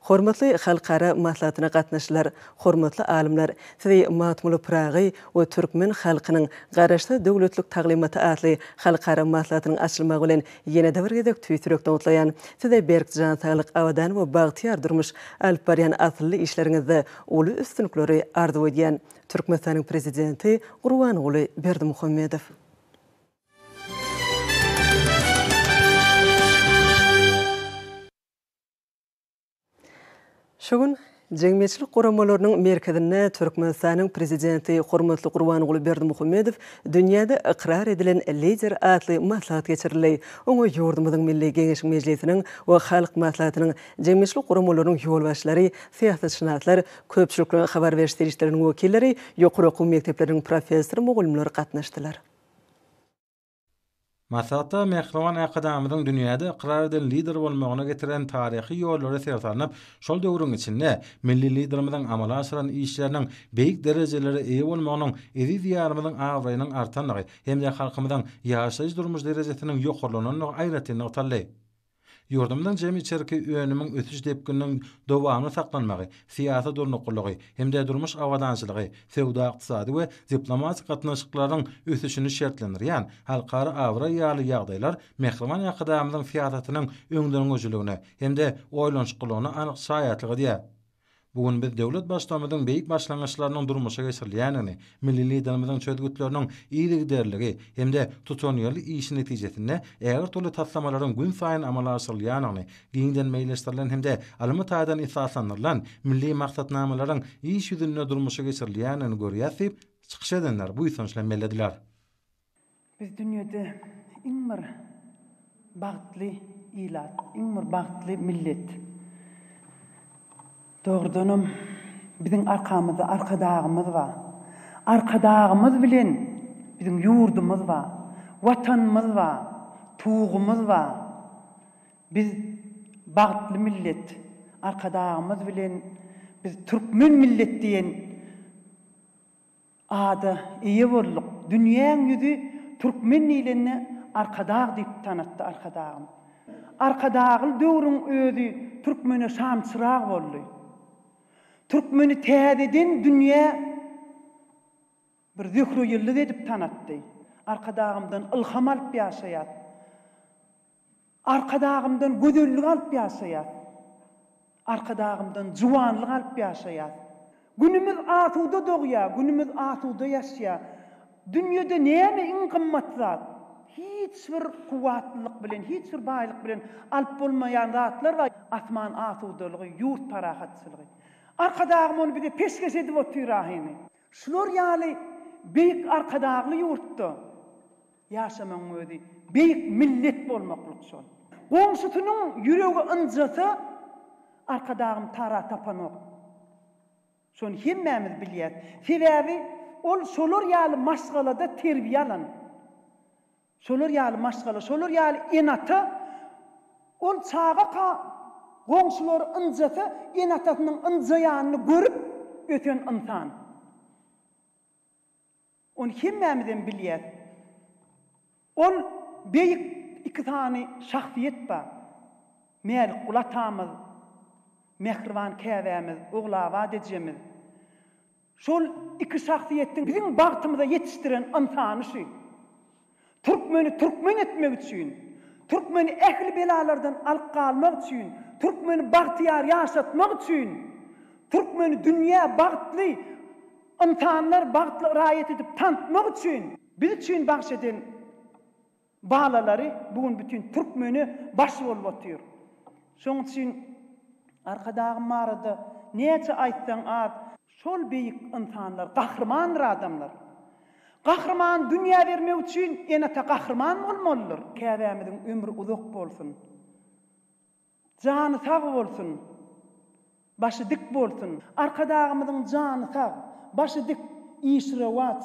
[SPEAKER 1] Hormatly halkara maslahatyna gatnaşyjylar, hormatly alymlar, sizi Magtymguly Pyragy we türkmen halkynyň Garaşsyz döwletlilik taglymaty atly halkara maslahatynyň açylmagy bilen ýene-de bir gezek tüýs ýürekden gutlaýan. Size berk jan saglyk, abadan we bagtyýar durmuş, alyp barýan asylly işleriňizde uly üstünlikleri arzuw edýän. Türkmenistanyň Prezidenti Gurbanguly Berdimuhamedow. Şu gün Jemgyýetçilik guramalarynyň merkezinde Türkmenistanyň Prezidenti hormatly Gurbanguly Berdimuhamedow Dünýäde ykrar edilen lider atly maslahat geçirildi. Oňa ýurdumyzyň Milli Geňeşi Mejlisiniň we Halk Maslahatynyň jemgyýetçilik guramalarynyň ýolbaşçylary, syýasatşynaslar, köpçülik habar beriş serişdeleriniň wekilleri, ýokary okuw mekdepleriniň professor-mugallymlary gatnaşdylar.
[SPEAKER 4] Maslahatda Mähriban Arkadagymyzyň dünýäde ykrar edilen Lider bolmagyna getiren taryhy ýollary ser salnyp, şol döwrüň içinde Milli Liderimiziň amala aşyran işleriniň beýik derejelere eýe bolmagynyň eziz Diýarymyzyň abraýynyň artandygy hem-de halkymyzyň ýaşaýyş-durmuş derejesiniň ýokarlanandygy aýratyn nygtaldy. Ýurdumyzyň jemi içerki önümiň ösüş depgininiň dowamly saklanmagy, syýasy durnuklylygy hem-de durmuş abadançylygy, söwda-ykdysady we diplomatik gatnaşyklaryň ösüşini şertlendirýän halkara abraý ýaly ýagdaýlar Mähriban Arkadagymyzyň syýasatynyň öňdengöçiligine hem-de oýlanyşyklylygyna anyk şaýatlyk edýär. Bu gün biz döwlet Baştutanymyzyň beýik başlangyçlarynyň durmuşa geçirilýändigini, milli Liderimiziň çözgütleriniň yzygiderligi hem-de tutanýerli işi netijesinde ägirtürli taslamalaryň günsaýyn amala aşyrylýandygyny, giňden meýilleşdirilen hem-de ylmy taýdan esaslandyrylan milli maksatnamalaryň iş ýüzünde durmuşa geçirilýändigini görýäris diýip, çykyş edenler buýsanç bilen bellediler.
[SPEAKER 5] Biz dünýede iň bir bagtly ilat, iň bir bagtly millet. Dogrudanam, biziň arkamyzda Arkadagymyz bar. Arkadagymyz bilen biziň ýurdumyz bar, Watanymyz bar, Tugumyz bar. Biz bagtly millet. Arkadagymyz bilen biz türkmen millet diýen. Ada eýe bolduk. Dünýäň ýüzi türkmen diýlende Arkadag diýip tanatdy Arkadagym. Arkadagly döwrüň özi türkmene şamçyrag boldy. Türkmeni täzeden dünýä bir Zöhre ýyldyz edip tanatdy. Arkadagymdan ylham alyp ýaşaýas. Arkadagymdan gözellik alyp ýaşaýas. Arkadagymdan juwanlyk alyp ýaşaýas. Günümiz asuda dogýar, günümiz asuda ýaşýar. Dünýede näme iň gymmat zat? Hiç bir kuwwatlylyk bilen, hiç bir baýlyk bilen alyp bolmaýan zatlar bar, asman asudalygy, ýurt parahatçylygy. Arkadagym ony bize peşgeş edip otyr ahini. Şular ýaly beýik Arkadagly ýurtda Ýaşamagyň özi beýik millet bolmaklyk şol. Goňşusynyň ýüregi ynjasa, Arkadagym tara tapanok. Şony hemmämiz bilýäs. Sebäbi ol şolar ýaly maşgalada terbiýe alan. Şolar ýaly maşgala, şolar ýaly ene-ata ol çagaka goňşulary ynjasa, ene-atasynyň ynjaýanyny görüp ösen ynsan. Ony hemmämizem bilýäs. Ol beýik iki sany şahsyýet bar. Mälikguly atamyz, mähriban käbämiz, Ogulabat ejemiz. Şol iki şahsyýetiň biziň bagtymyza ýetişdiren ynsany şu. Türkmeni türkmen etmek üçin, türkmeni ähli belalardan alyp galmak üçin, türkmeni bagtyýar ýaşatmak üçin, türkmeni dünýä bagtly ynsanlar, bagtly raýat edip tantytmak üçin, biz üçin bagş eden balalary bu gün bütin türkmene baş bolup otyr. Şonuň üçin Arkadagym barada näçe aýtsaň az. Şol beýik ynsanlar gahrymandyr adamlar. Gahryman dünýä bermek üçin ene-ata gahryman bolmalydyr. Käbämiziň ömri uzak bolsun. Jany sag bolsun. Başy dik bolsun. Arkadagymyzyň jany sag, başy dik, işi rowaç.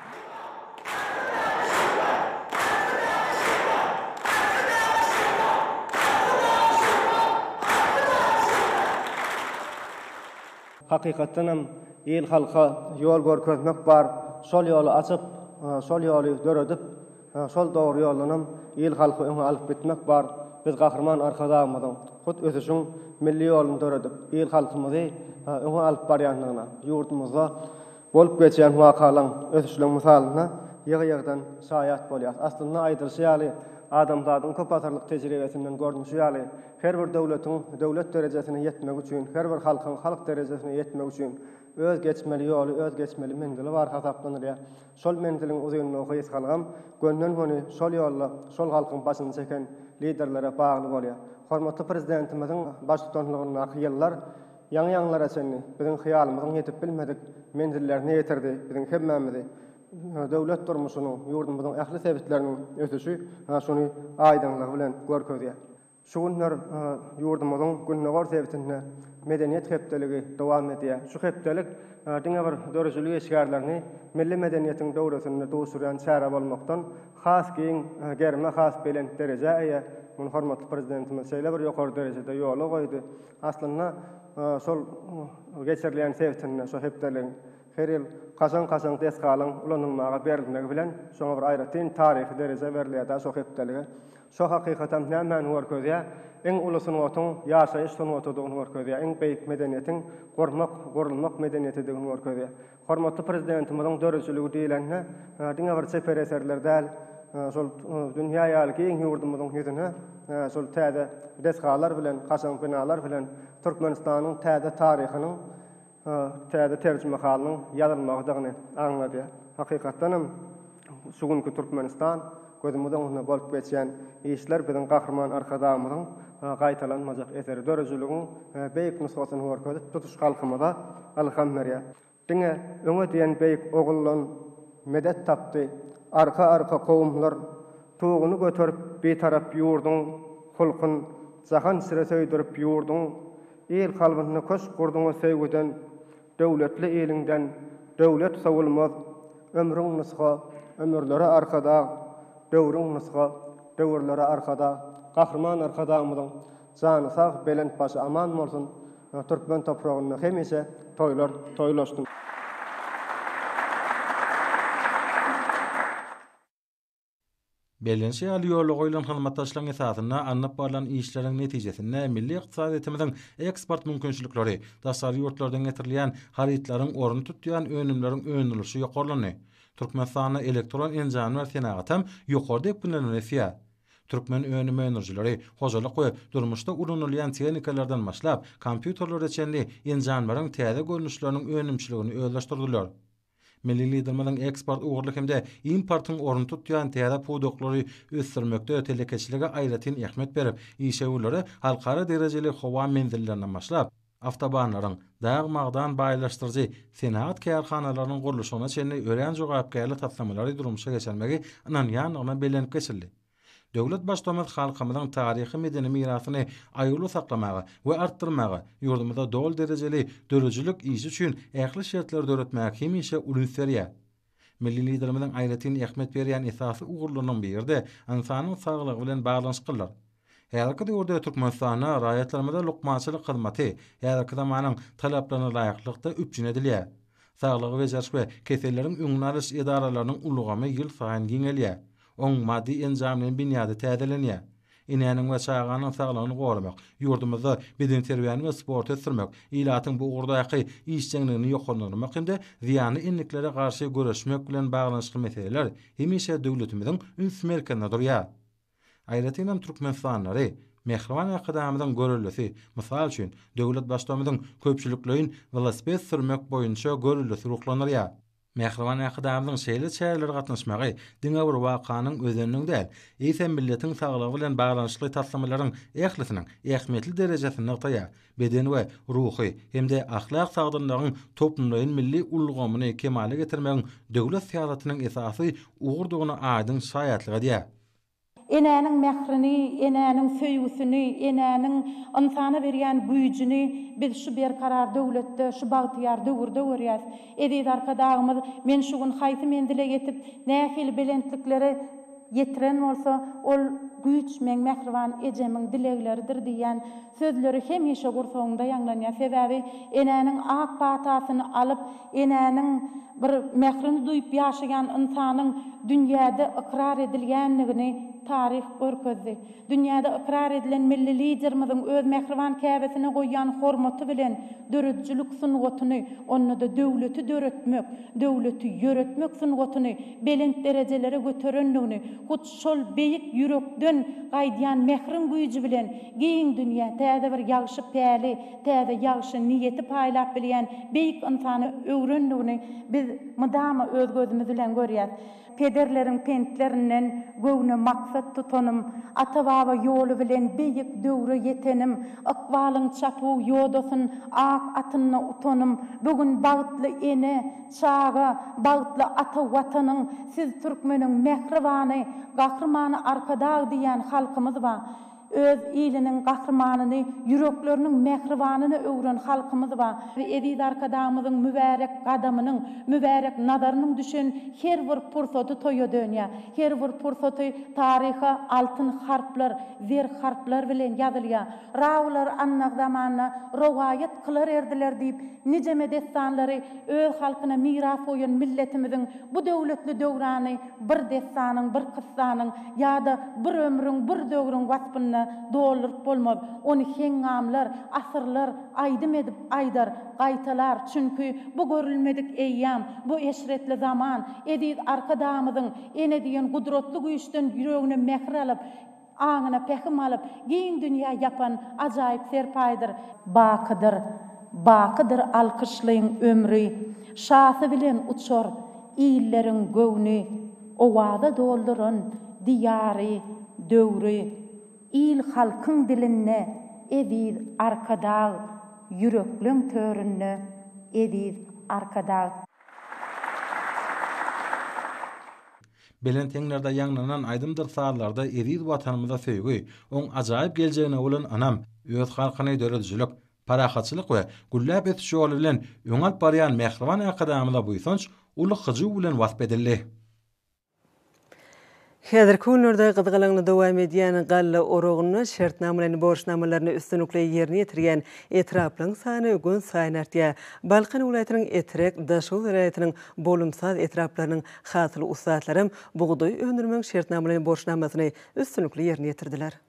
[SPEAKER 6] Hakykatdan hem il-halka ýol görkezmek bar, şol ýoly açyp, şol ýoly döredip, şol dogry ýoldanam il-halky öňe alyp gitmek bar. Biz Gahryman Arkadagymyzyň hut ösüşiň milli ýoluny döredip, il-halkymyzy öňe alyp barýandygyna, ýurdumyzda Bolup geçýän wakalaryň, ösüşleriň mysalyna ýygy-ýygydan şaýat bolýarys. Aslynda aýdylyşy ýaly, adamzadyň köp asyrlyk tejribesinden görnüşi ýaly, her bir döwletiň döwlet derejesine ýetmegi üçin, her bir halkyň halk derejesine ýetmegi üçin öz geçmeli ýoly, öz geçmeli menzili bar hasaplanylýar. Şol menziliň uzynlygy gysgalygam gönden-göni şol ýolda şol halkyň başyny çeken Liderlere bagly bolýar. Hormatly Prezidentimiziň baştutanlygyndaky ýyllar, Ýaňy-ýaňylara çenli biziň hyýalymyzyň ýetip bilmedik menzillerine ýetirdi, biziň hemmämizi döwlet durmuşynyň, ýurdumyzyň ähli sebitleriniň ösüşi şuny aýdyňlygy bilen görkezýär. Şu günler ýurdumyzyň gündogar sebitinde Medeniýet hepdeligi dowam edýär. Şu hepdelik diňe bir döredijilik işgärlerini milli medeniýetiň döwresinde duşurýan çäre bolmakdan, has giň gerime, has belent derejä eýe. Muny hormatly Prezidentimiz şeýle bir ýokary derejede ýola goýdy. Aslynda, şol geçirilýän sebitinde şu hepdeligiň her ýyl kaşaň-kaşaň desgalaryň ulanylmaga berilmegi bilen, şoňa bir aýratyn taryhy dereje berilýär-dä şu hepdelige. Şo hakykatam nämäni görkezýär? Iň uly sungatyň ýaşaýyş sungatydygyny görkezýär, iň beýik medeniýetiň gurmak, gurulmak medeniýetidigini görkezýär. Hormatly Prezidentimiziň döredijiligi diýlende, diňe bir çeper eserler däl, şol dünýä ýaly giň ýurdumyzyň ýüzüne şol täze desgalar bilen, kaşaň binalar bilen Türkmenistanyň täze taryhynyň täze terjimehalynyň ýazylmagydygyny aňladýar. Hakykatdan hem, Şu günki Türkmenistan gözümiz öňünde bolup geçýän işler biziň Gahryman Arkadagymyzyň gaýtalanmajak eseri, döredijiligiň beýik nusgasyny görkezip, tutuş halkymyza ylham berýär. Diňe öňe diýen beýik oguldan medet tapdy arka-arka kowumlar, Tuguny göterip Bitarap ýurduň hulkun jahan sire söýdürip ýurduň, Il kalbynda köşk gurduňa söýgüden Döwletli iliňden döwlet sowulmaz, Ömrüň nusga, ömürlere arkadag, Döwrüň nusga, döwürlere arkadag. Gahryman Arkadagymyzyň jany sag, belent başy aman bolsun! Türkmen topragynda hemişe toýlar toýlaşsyn!
[SPEAKER 4] Bellenişi ýaly, ýola goýlan hyzmatdaşlygyň esasynda alnyp barlan işleriň netijesinde milli ykdysadyýetimiziň eksport mümkinçilikleri, daşary ýurtlardan getirilýän harytlaryň ornuny tutýan önümleriň öndürilişi ýokarlandy. Türkmenistanda elektron enjamlar senagatam ýokary depginde bilen ösýär. Türkmen önüm öndürijileri hojalyk we durmuşda ulanylýan tehnikalardan başlap, kompýuterlere çenli enjamlaryň täze görnüşleriniň önümçiligini özleşdirdiler. Milli Liderimiziň eksport ugurly hem-de importyň ornuny tutýan täze pudaklary ösdürmekde telekeçilige aýratyn ähmiýet berip, işewürlere halkara derejeli howa menzillerinden başlap, awtobanlaryň, dag-magdan baýlaşdyryjy senagat kärhanalarynyň gurluşygyna çenli örän jogapkärli taslamalary durmuşa geçirmegi ynanýandygyna bellenip geçildi. Döwlet Baştutanymyz halkymyzyň taryhy-medeni mirasyny aýawly saklamaga we artdyrmaga, ýurdumyzda doly derejeli döredijilik işi üçin ähli şertleri döretmäge hemişe ulins berýär. Milli Liderimiziň aýratyn ähmiýet berýän esasy ugurlarynyň biri-de ynsanyň saglygy bilen baglanyşyklydyr. Häzirki döwürde Türkmenistanda raýatlarymyza lukmançylyk hyzmaty häzirki zamanyň talaplaryna laýyklykda üpjün edilýär. Saglygy bejeriş we keselleriň öňüni alyş edaralarynyň ulgamy ýylsaýyn giňelýär. Oň maddy-enjamlaýyn binýady täzelenýär. Enäniň we çaganyň saglygyny goramak, ýurdumyzda bedenterbiýäni we sporty ösdürmek, ilatyň bu ugurdaky işjeňligini ýokarlandyrmak hem-de zyýanly endiklere garşy göreşmek bilen baglanyşykly meseleler hemişe döwletimiziň üns merkezinde durýar. Aýratynam türkmenistanlylary Mähriban Arkadagymyzyň görellesi, mysal üçin, döwlet Baştutanymyzyň köpçülikleýin welosiped sürmek boýunça göreldesi ruhlandyrýar. Mähriban Äkidarynyň şeýle çärelere gatnaşmagy diňe bir wakanyň özeniniň däl, eýsem milletiň saglygy bilen baglanyşykly taslamalaryň ählisiniň ähmiýetli derejesini nygtaýar, beden we ruhy hem-de ahlak sagdynlygyň toplumlaýyn milli ulgamyny kemala getirmegiň döwlet syýasatynyň esasy ugurdygyna aýdyň şaýatlyk edýär. Enäniň
[SPEAKER 7] mährini, enäniň söýgüsini, enäniň ynsana berýän güýjüni biz şu berkarar döwletde, şu bagtyýar döwürde görýäs. Eziz Arkadagymyz men şu gün haýsy menzile ýetip, nähili belentliklere ýetiren bolsa, ol güýç meň mähriban ejemiň dilegleridir diýýän Sözleri hemişe gursagyňda ýaňlanýar, sebäbi enäniň ak patasyny alyp, enäniň bir mährini duýup ýaşaýan ynsanyň dünýäde ykrar edilýändigini taryh görkezdi. Dünýäde ykrar edilen Milli Liderimiziň öz mähriban käbesine goýýan hormaty bilen döredijilik sungatyny, onda-da döwleti döretmek, döwleti ýöretmek sungatyny belent derejelere göterendigini, hut Şol beýik ýürekden gaýdýan mähriň güýji bilen giň dünýä täze bir ýagşy päli, täze ýagşy niýeti paýlap bilýän beýik ynsany öwrendigini biz mydama öz gözümiz bilen görýäs. Pederleriň pentlerinden göwne maksat tutanym, ata-baba ýoly bilen beýik döwre ýetenim, ykbalyň çapuw ýodasyn ak atynda utanym, bu gün bagtly ene, Çaga, bagtly ata Watanyň, siz türkmeniň mähribany Gahrymany Arkadag diýýän halkymyz ba. Öz iliniň gahrymanyny, ýürekleriniň mähribanyny öwren halkymyz ba. Eziz Arkadagymyzyň mübärek gadamynyň, mübärek nazarynyň düşen her bir pursady toýa dönýär. Her bir pursaty taryha altyn harplar, zer harplar bilen ýazylýar. Rawylar annak zamanda rowaýat kylar erdiler diýip, nijeme dessanlary öz halkyna miras goýan milletimiziň bu döwletli döwrany bir dessanyň, bir kyssanyň ýa-da bir ömrüň, bir döwrüň waspynda dolduryp bolmaz. Ony heňňamlar, asyrlar aýdym edip aýdar, gaýtalar, çünki bu görülmedik eýýam, bu eşretli zaman, eziz Arkadagymyzyň ene diýen gudratly güýçden ýüregine mähir alyp, Aňyna pähim alyp, giň dünýä ýapan ajaýyp serpaýdyr. Bakydyr, bakydyr alkyşlyň ömri, şasy bilen uçar illeriň göwni. Owaza dolduran Diýary, döwri, il-halkyň dilinde eziz Arkadag, ýürekleň töründe eziz Arkadag.
[SPEAKER 4] Belent heňlerde ýaňlanan aýdymdyr-sazlarda eziz Watanymyza söýgi, oň ajaýyp geljegine bolan ynam, öz halkyny döredijilik, parahatçylyk we gülläp ösüş ýoly bilen öňe alyp barýan mähriban Arkadagymyza buýsanç uly hyjuw bilen wasp edildi.
[SPEAKER 1] Häzirki günlerde gyzgalaňly dowam edýän galla oragynda şertnamalaýyn borçnamalaryny üstünlikli ýerine ýetirýän etraplaryň sany günsaýyn artýar. Balkan welaýatynyň Etrek, Daşoguz welaýatynyň Bolumsaz etraplarynyň Hasyl ussatlaram bugdaý öndürmegiň şertnamalaýyn borçnamasyny üstünlikli ýerine ýetirdiler.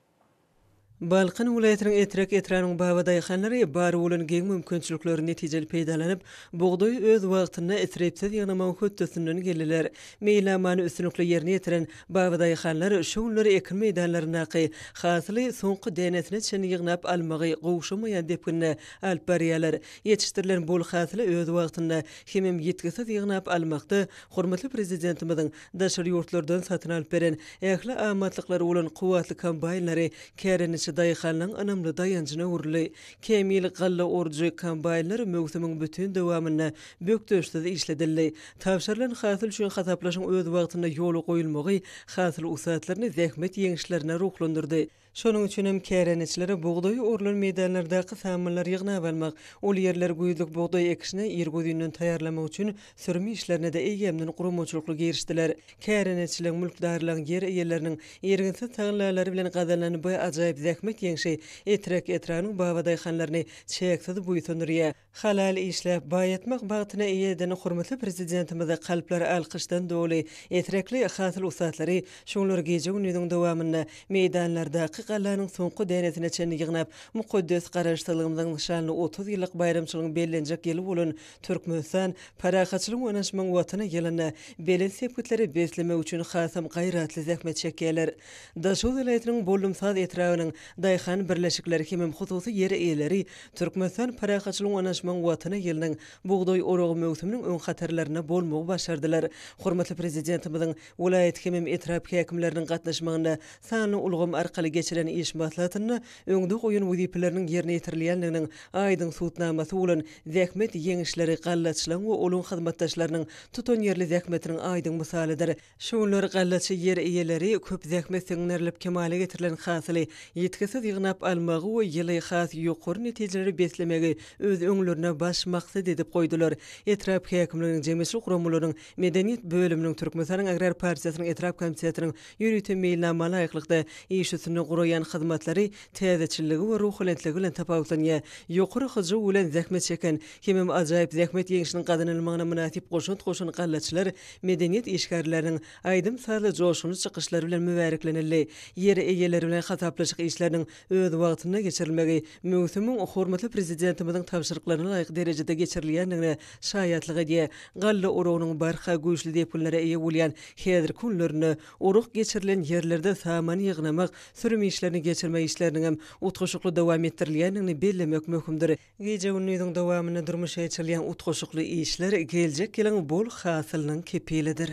[SPEAKER 1] Balkan welaýatynyň Etrek etrabynyň baba daýhanlary bar bolan giň mümkinçilikleri netijeli peýdalanyp, bugdaýy öz wagtynda isripsiz ýygnamagyň hötdesinden geldiler. Meýilnamany üstünlikli ýerine ýetiren baba daýhanlar şu günler ekin meýdanlaryndaky hasyly soňky dänesine çenli ýygnap almagy gowşamaýan depginde alyp barýarlar. Ýetişdirilen bol hasyly öz wagtynda hemem ýitgisiz ýygnap almakda hormatly Prezidentimiziň daşary ýurtlardan satyn alyp beren ähli amatlyklary bolan kuwwatly kombaýnlary kärendeçi daýhanlaryň ynamly daýanjyna öwrüldi. Kämil galla orujy kombaýnlar möwsümiň bütin dowamynda bökdençsiz işledildi. Tabşyrylan hasyl üçin hasaplaşyň öz wagtynda ýola goýulmagy hasyl ussatlaryny zähmet ýeňişlerine ruhlandyrdy. Şonuň üçin hem kärendeçilere bugdaýy orlan meýdanlardaky samanylar ýygnap almak, ol ýerleri güýzlük bugdaý ekişine irgözinden taýýarlamak üçin sürüm işlerine-de eýýämden guramaçylykly girişdiler. Kärendeçiligiň, mülkdarlaryň, ýer eýeleriniň irginsiz tagallalary bilen gazanylan bu ajaýyp zähmet ýeňşi Etrek etrabynyň babadaýhanlaryny çäksiz buýsandyrýar. Halal işläp, baýatmak bagtyna eýe eden hormatly Prezidentimize kalplar alkyşdan doly, esrekli hasyl ussatlary şu günler gije-gündiziň dowamynda meýdanlardaky gallanyň soňky dänesine çenli ýygnap, mukaddes Garaşsyzlygymyzyň nyşanly otuz ýyllyk baýramçylygyň bellenjek ýyly bolan Türkmenistan, parahatçylygyň, ynanyşmagyň Watany ýylynda belent sepgitlere beslemek üçin hasam gaýratly zähmet çekýärler. Daşoguz welaýatynyň Boldumsaz etrabynyň daýhan birleşikleri hemem hususy ýer eýeleri Türkmenistan parahatçylygyň Oňaşmagyň Watany ýylynyň bugdaý oragy möwsüminiň öň hatarlarynda bolmagy başardylar. Hormatly Prezidentimiziň welaýat hemem etrap häkimleriniň gatnaşmagynda sanly ulgam arkaly geçiren iş maslahatynda öňde goýan wezipeleriniň ýerine ýetirilýändiginiň aýdyň subutnamasy bolan zähmet ýeňişleri gallaçylaryň we olaryň hyzmatdaşlarynyň tutanýerli zähmetiniň aýdyň mysalydyr. Şugunlar gallaçy ýer eýeleri köp zähmet siňdirilip kemala getirilen hasyly ýitgisiz ýygnap almagy we ýyly has ýokary netijeleri beslemegi öz öňlerine baş maksat edip goýdular. Etrap häkimliginiň jemgyýetçilik guramalarynyň medeniýet bölüminiň Türkmenistanyň Agrar partiýasynyň etrap komitetiniň ýörite meýilnama laýyklykda iş üstünde guraýan hyzmatlary täzeçilligi we ruhulentligi bilen tapawutlanýar. Ýokary hyjuw bilen zähmet çeken hemem ajaýyp zähmet ýeňşiniň gazanylmagyna mynasyp goşant goşan gallaçylar Medeniýet işgärleriniň aýdym-sazly joşgunly çykyşlary bilen mübäreklenildi. Ýer eýeleri bilen hasaplaşyk işleriniň öz wagtynda geçirilmegi möwsümiň hormatly Prezidentimiziň tabşyryklaryna laýyk derejede geçirilýändigine şaýatlyk edýär. Galla oragynyň barha güýçli depginlere eýe bolýan häzirki günlerinde orag geçirilen ýerlerde samany ýygnamak, sürüm işlerini geçirmek işleriniňem utgaşykly dowam etdirilýändigini bellemek möhümdir. Gije-gündiziň dowamynda durmuşa geçirilýän utgaşykly işler geljek ýylyň bol hasylynyň kepilidir.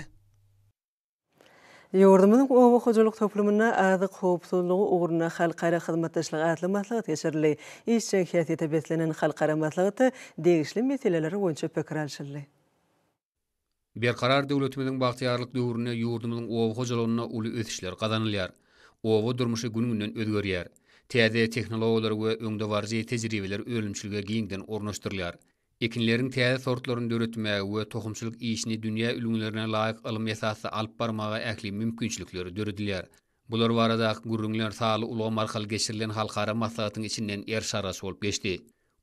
[SPEAKER 1] Ýurdumyzyň oba hojalyk toplumynda Azyk howpsuzlygy ugrunda halkara hyzmatdaşlygy atly maslahat geçirildi. Işjeň häsiýete beslenen halkara maslahatda degişli meseleler boýunça pikir alşyldy.
[SPEAKER 8] Berkarar döwletimiziň bagtyýarlyk döwründe ýurdumyzyň oba hojalygynda uly ösüşler gazanylýar. Oba durmuşy gün-günden özgerýär. Täze tehnologiýalar we öňdebaryjy tejribeler önümçilige giňden ornaşdyrylýar. Ekinleriň täze sortlaryny döretmäge we tohumçylyk işini dünýä ülňülerine laýyk ylmy esasda alyp barmaga ähli mümkinçilikler döredilýär. Bular baradaky gürrüňler sanly ulgam arkaly geçirilen halkara maslahatyň içinden eriş-argaç bolup geçdi.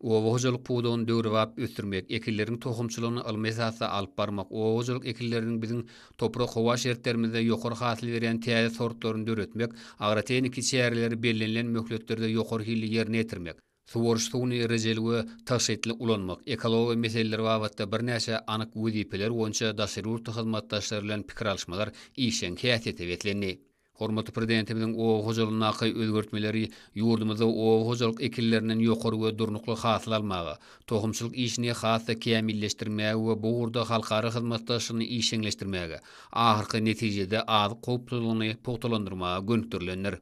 [SPEAKER 8] Oba hojalyk pudagyny döwrebap ösdürmek, ekinleriň tohumçylygyny ylmy esasda alyp barmak, oba hojalyk ekinleriniň biziň toprak-howa şertlerimizde ýokary hasyl berýän täze sortlaryny döretmek, agrotehniki çäreleri bellenilen möhletlerde ýokary hilli ýerine ýetirmek, Suwaryş suwuny rejeli we tygşytly ulanmak, ekologiýa meseleleri babatda birnäçe anyk wezipeler boýunça daşary ýurtly hyzmatdaşlar bilen pikir alyşmalar işjeň häsiýete beslendi. Hormatly Prezidentimiziň oba hojalygyndaky özgertmeleri ýurdumyzda oba hojalyk ekinlerinden ýokary we durnukly hasyl almaga, tohumçylyk işini has-da kämilleşdirmäge we bu ugurda halkara hyzmatdaşlygyny işjeňleşdirmäge, ahyrky netijede azyk howpsuzlygyny pugtalandyrmaga gönükdirilendir.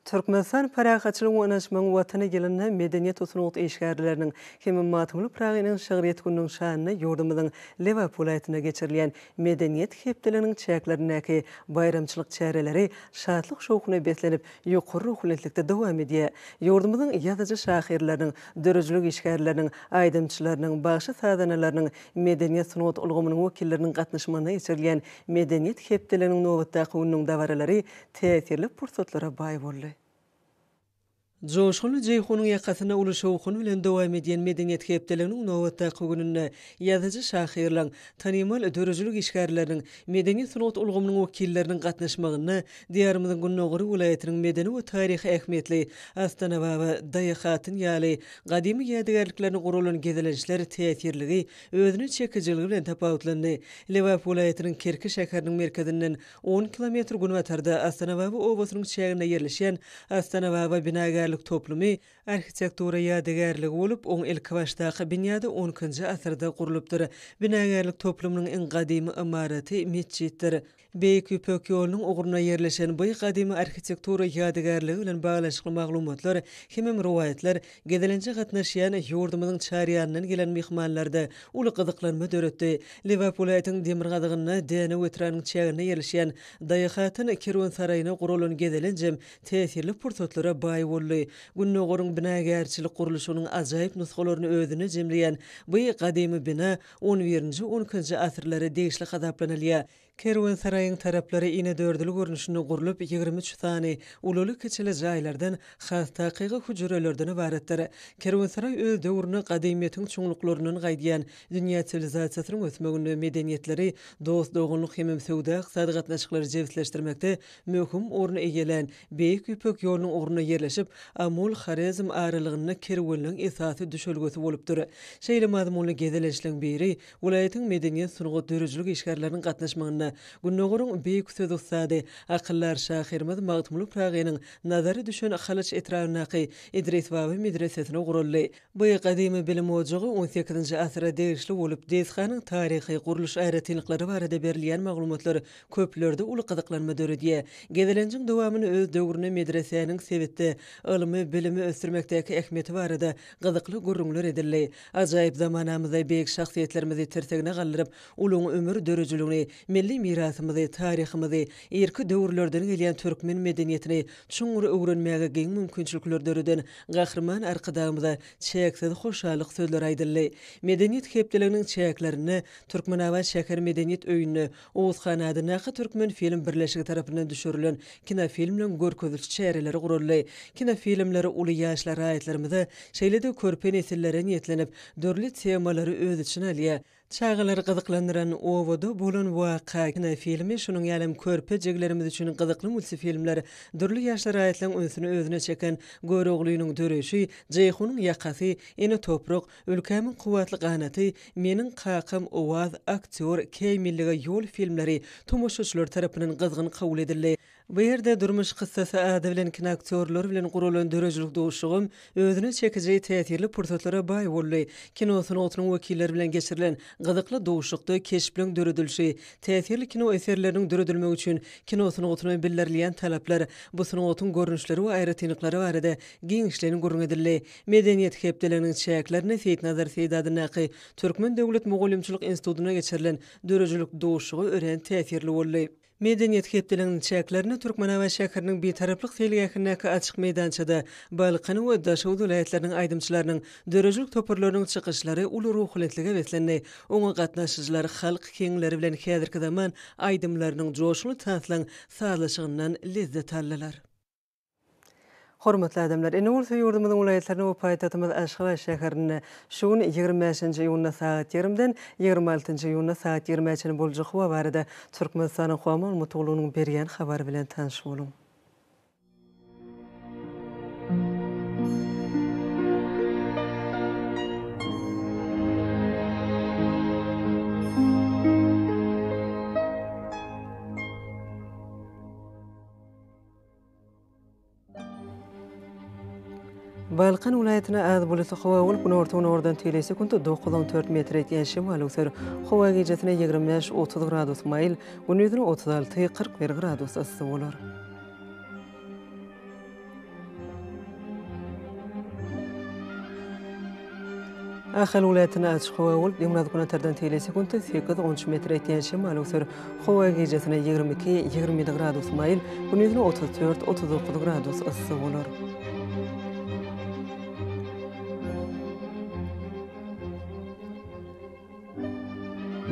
[SPEAKER 1] Türkmenistan Parahatçylygyň we ynanyşmagyň Watany ýylynda medeniýet we sungat işgärleriniň hem-de Magtymguly Pyragynyň şygryýet gününiň şanyna ýurdumyzyň Lebap welaýatynda geçirilýän Medeniýet hepdeliginiň çäklerindäki baýramçylyk çäreleri şatlyk-şowhuna beslenip, ýokary ruhubelentlikde dowam edýär. Ýurdumyzyň ýazyjy-şahyrlarynyň, döredijilik işgärleriniň, aýdymçylarynyň, bagşy-sazanalarynyň, medeniýet-sungat ulgamynyň wekilleriniň gatnaşmagynda geçirilýän Medeniýet hepdeliginiň nobatdaky gününiň dabaralary täsirli pursatlara baý boldy. Joşgunly Jeýhunyň ýakasyna uly şowhun bilen dowam edýän Medeniýet hepdeliginiň nobatdaky gününde ýazyjy-şahyrlaryň, tanymal döredijilik işgärleriniň, medeni-sungat ulgamynyň wekilleriniň gatnaşmagynda Diýarymyzyň Gündogar welaýatynyň medeni we taryhy ähmiýetli Astanababa, Daýahatyn ýaly gadymy ýadygärliklerine guralan gezelençler täsirliligi, özüne çekijiligi bilen tapawutlandy. Lebap welaýatynyň Kerki şäheriniň merkezinden On kilometr günbatarda Astanababa obasynyň çäginde ýerleşen Astanababa binagärlik toplumy arhitektura ýadygärligi bolup, oň ilkibaşdaky binýady on ikinji asyrda gurlupdyr. Binagärlik toplumynyň iň gadymy ymaraty metjitdir. Beýik Ýüpek ýolunyň ugrunda ýerleşen bu gadymy arhitektura ýadygärligi bilen baglanyşykly maglumatlar hemem rowaýatlar Gezelenje gatnaşýan ýurdumyzyň çar ýanyndan gelen myhmanlarda uly gyzyklanma döretdi. Lebap welaýatynyň demirgazygynda Dänew etrabynyň çäginde ýerleşýän Daýahatyn kerwensaraýyna guralan gezelenjem täsirli pursatlara baý boldy. Gündogaryň binagärçilik gurluşygynyň ajaýyp nusgalaryny özünde jemleýän by gadymy bina on birinji-on ikinji asyrlara degişli hasaplanylýar. Kerwensaraýyň taraplary inedördül görnüşinde gurlup, ýigrimi üç sany ululy-kiçili jaýlardan, has takygy hüjrelerden ybaratdyr. Kerwensaraý öz döwrüne gadymyýetiň çuňluklaryndan gaýdýan dünýä siwilizasiýasynyň ösmeginde, medeniýetleri, dost-doganlyk hemem söwda-ykdysady gatnaşyklary jebisleşdirmekde möhüm orun eýelän Beýik Ýüpek ýolunyň ugrunda ýerleşip, Amul-Horezm aralygynda kerwenleň esasy düşelgesi bolupdyr. Şeýle mazmunly gezelençleň biri Welaýatyň medeniýet, sungat, döredijilik işgärleriniň gatnaşmagynda Gündogaryň beýik söz ussady, akyldar şahyrymyz Magtymguly Pyragynyň nazary düşen Halaç etrabyndaky Idris baba medresesine guraldy. Bu gadymy bilim ojagy on sekizinji asyra degişli bolup, desganyň taryhy, gurluş aýratynlyklary barada berilýän maglumatlar köplerde uly gyzyklanma döredýär. Gezelenjiň dowamyny öz döwründe medresäniň sebitde ylmy, bilimi ösdürmekdäki ähmiýeti barada gyzykly gürrüňler edildi. Ajaýyp zamanamyzda beýik şahsyýetlerimizi tirsigine galdyryp, uluň ömür dörüjiligini, milli mirasymyzy, taryhymyzy, irki döwürlerden gelýän türkmen medeniýetini çuňňur öwrenmäge giň mümkinçilikler döreden Gahryman Arkadagymyza çäksiz hoşallyk sözleri aýdyldy. Medeniýet hepdeliginiň çäklerinde Türkmenabat şäher medeniýet öýünde Oguz han adyndaky Türkmenfilm birleşigi tarapyndan düşürilen kinofilmleň görkeziliş çäreleri guraldy. Kinofilmler uly ýaşly raýatlarymyza, şeýle-de körpe nesillere niýetlenip, dürli temalary öz içine alýar. Çagalary gyzyklandyran Obada bolan waka kinofilmi, şonuň ýaly hem körpe jiglerimiz üçin gyzykly multifilmler, dürli ýaşly raýatlaryň ünsüni özüne çeken Göroglynyň döreşi, Jeýhunyň ýakasy, Ene toprak, Ülkämiň kuwwatly ganaty Meniň kakam owaz, aktýor, Käý millige ýol filmleri tomaşaçylar tarapyndan gyzgyn kabul edildi. Bu ýerde Durmuş kyssasy ady bilen kinoaktýorlar bilen guralan döredijilik duşuşygym özüne çekiji täsirli pursatlara baý boldy. Kino sungatynyň wekilleri bilen geçirilen gyzykly duşuşykda keşpleriň döredilişi, täsirli kino eserleriniň döredilmegi üçin kino sungatyna bildirilýän talaplar, bu sungatyň görnüşleri we aýratynlyklary barada giňişleýin gürrüň edildi. Medeniýet hepdeliginiň çäklerinde Seýitnazar Seýdi adyndaky Türkmen döwlet mugallymçylyk institutynda geçirilen döredijilik duşuşygy örän täsirli boldy. Medeniýet hepdeliginiň çäklerinde Türkmenabat şäheriniň Bitaraplyk seýilgähindäki açyk meýdançada Balkan we Daşoguz welaýatlarynyň aýdymçylarynyň, döredijilik toparlarynyň çykyşlary uly ruhubelentlige beslendi, oňa gatnaşyjylar halk kingleri bilen häzirki zaman aýdymlarynyň joşgunly tanslan sazlaşygyndan lezzet aldylar. Hormatly adamlar! Ene gursa ýurdumyzyň welaýatlaryna we paýtagtymyz Aşgabat şäherinde şu gün ýigrimi bäşinji iýunda sagat ýigrimden ýigrimi altynjy iýunda sagat ýigrimä çenli boljak howa barada Türkmenistanyň Howa maglumatlygynyň berýän habary bilen tanyş boluň. Balkan welaýatyna az bulutly howa bolup, günorta-günordan teýlä sekuntda dokuz on dört metr ýetýän şemal öwser. Howa gijasine ýigrimi bäş otuz gradus maýyl, gündizine otuz alty kyrk bir gradus yssy bolar. Ahal welaýatynda açyk howa bolup, gündüz gün atardan tegelek sekuntda sekiz, on üç metre etýän şemal öser. Howa gijesine ýigrimi iki, ýigrimi ýedi gradus maýyl, gündizine otuz dört, otuz dokuz gradus yssy bolar.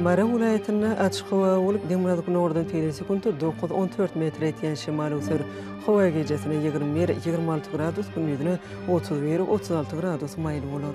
[SPEAKER 1] Mary welaýatynda açyk howa bolup, demirgazyk-günordan tel sekuntda dokuz, on dört metr etýän şemal öwser. Howa gijasine ýigrimi bir, ýigrimi alty gradus, gündizine otuz bir, otuz alty gradus maýyl bolar.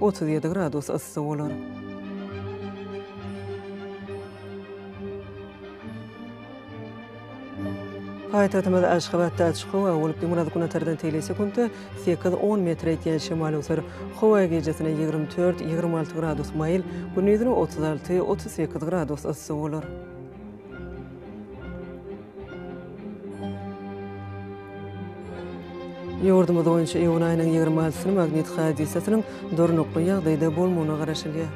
[SPEAKER 1] Otuz ýedi gradus yssy bolar. Paýtagtymyz Aşgabatda açyk howa bolup, gymyrat günatardan teýli sekuntda sekiz on metr ýetýän şemal öser. Howa gijesine ýigrimi dört, ýigrimi alty gradus maýyl, gündizine otuz alty, otuz sekiz gradus yssy bolar. Ýurdumyz boýunça iýun aýynyň ýigrimi altysyny magnit hadysasynyň durnukly ýagdaýda bolmagyna garaşylýar.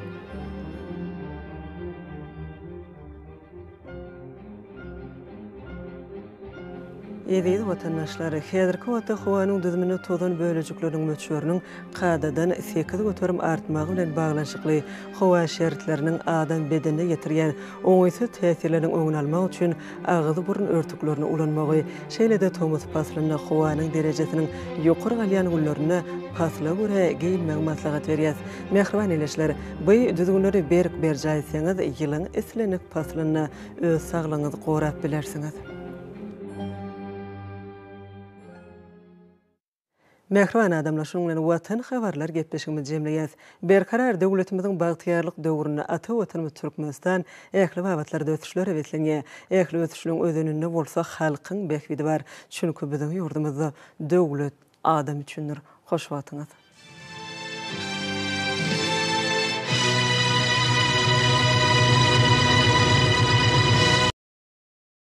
[SPEAKER 1] Eziz watandaşlar! Häzirki wagtda howanyň düzüminde tozan bölejikleriniň möçberiniň kadadan sekiz göterim artmagy bilen baglanyşykly howa şertleriniň adam bedenine ýetirýän oňaýsyz täsirleriniň öňüni almak üçin agyz-burun örtüklerini ulanmagy, şeýle-de tomus paslynda howanyň derejesiniň ýokary galýan günlerinde pasla görä geýinmegi maslahat berýäs. Mähriban ildeşler! Bu düzgünleri berk berjaý etseňiz, ýylyň islendik paslynda Öz saglygyňyzy gorap bilersiňiz. Mähriban adamlar, şunuň bilen Watan habarlar gepleşigimizi jemleýäs. Berkarar döwletimiziň bagtyýarlyk döwründe ata Watanymyz Türkmenistan ähli babatlarda ösüşlere beslenýär. Ähli ösüşiniň özeninde bolsa halkyň bähbidi bar. Çünki biziň ýurdumyzda döwlet, Adam üçindir hoş wagtyňyz.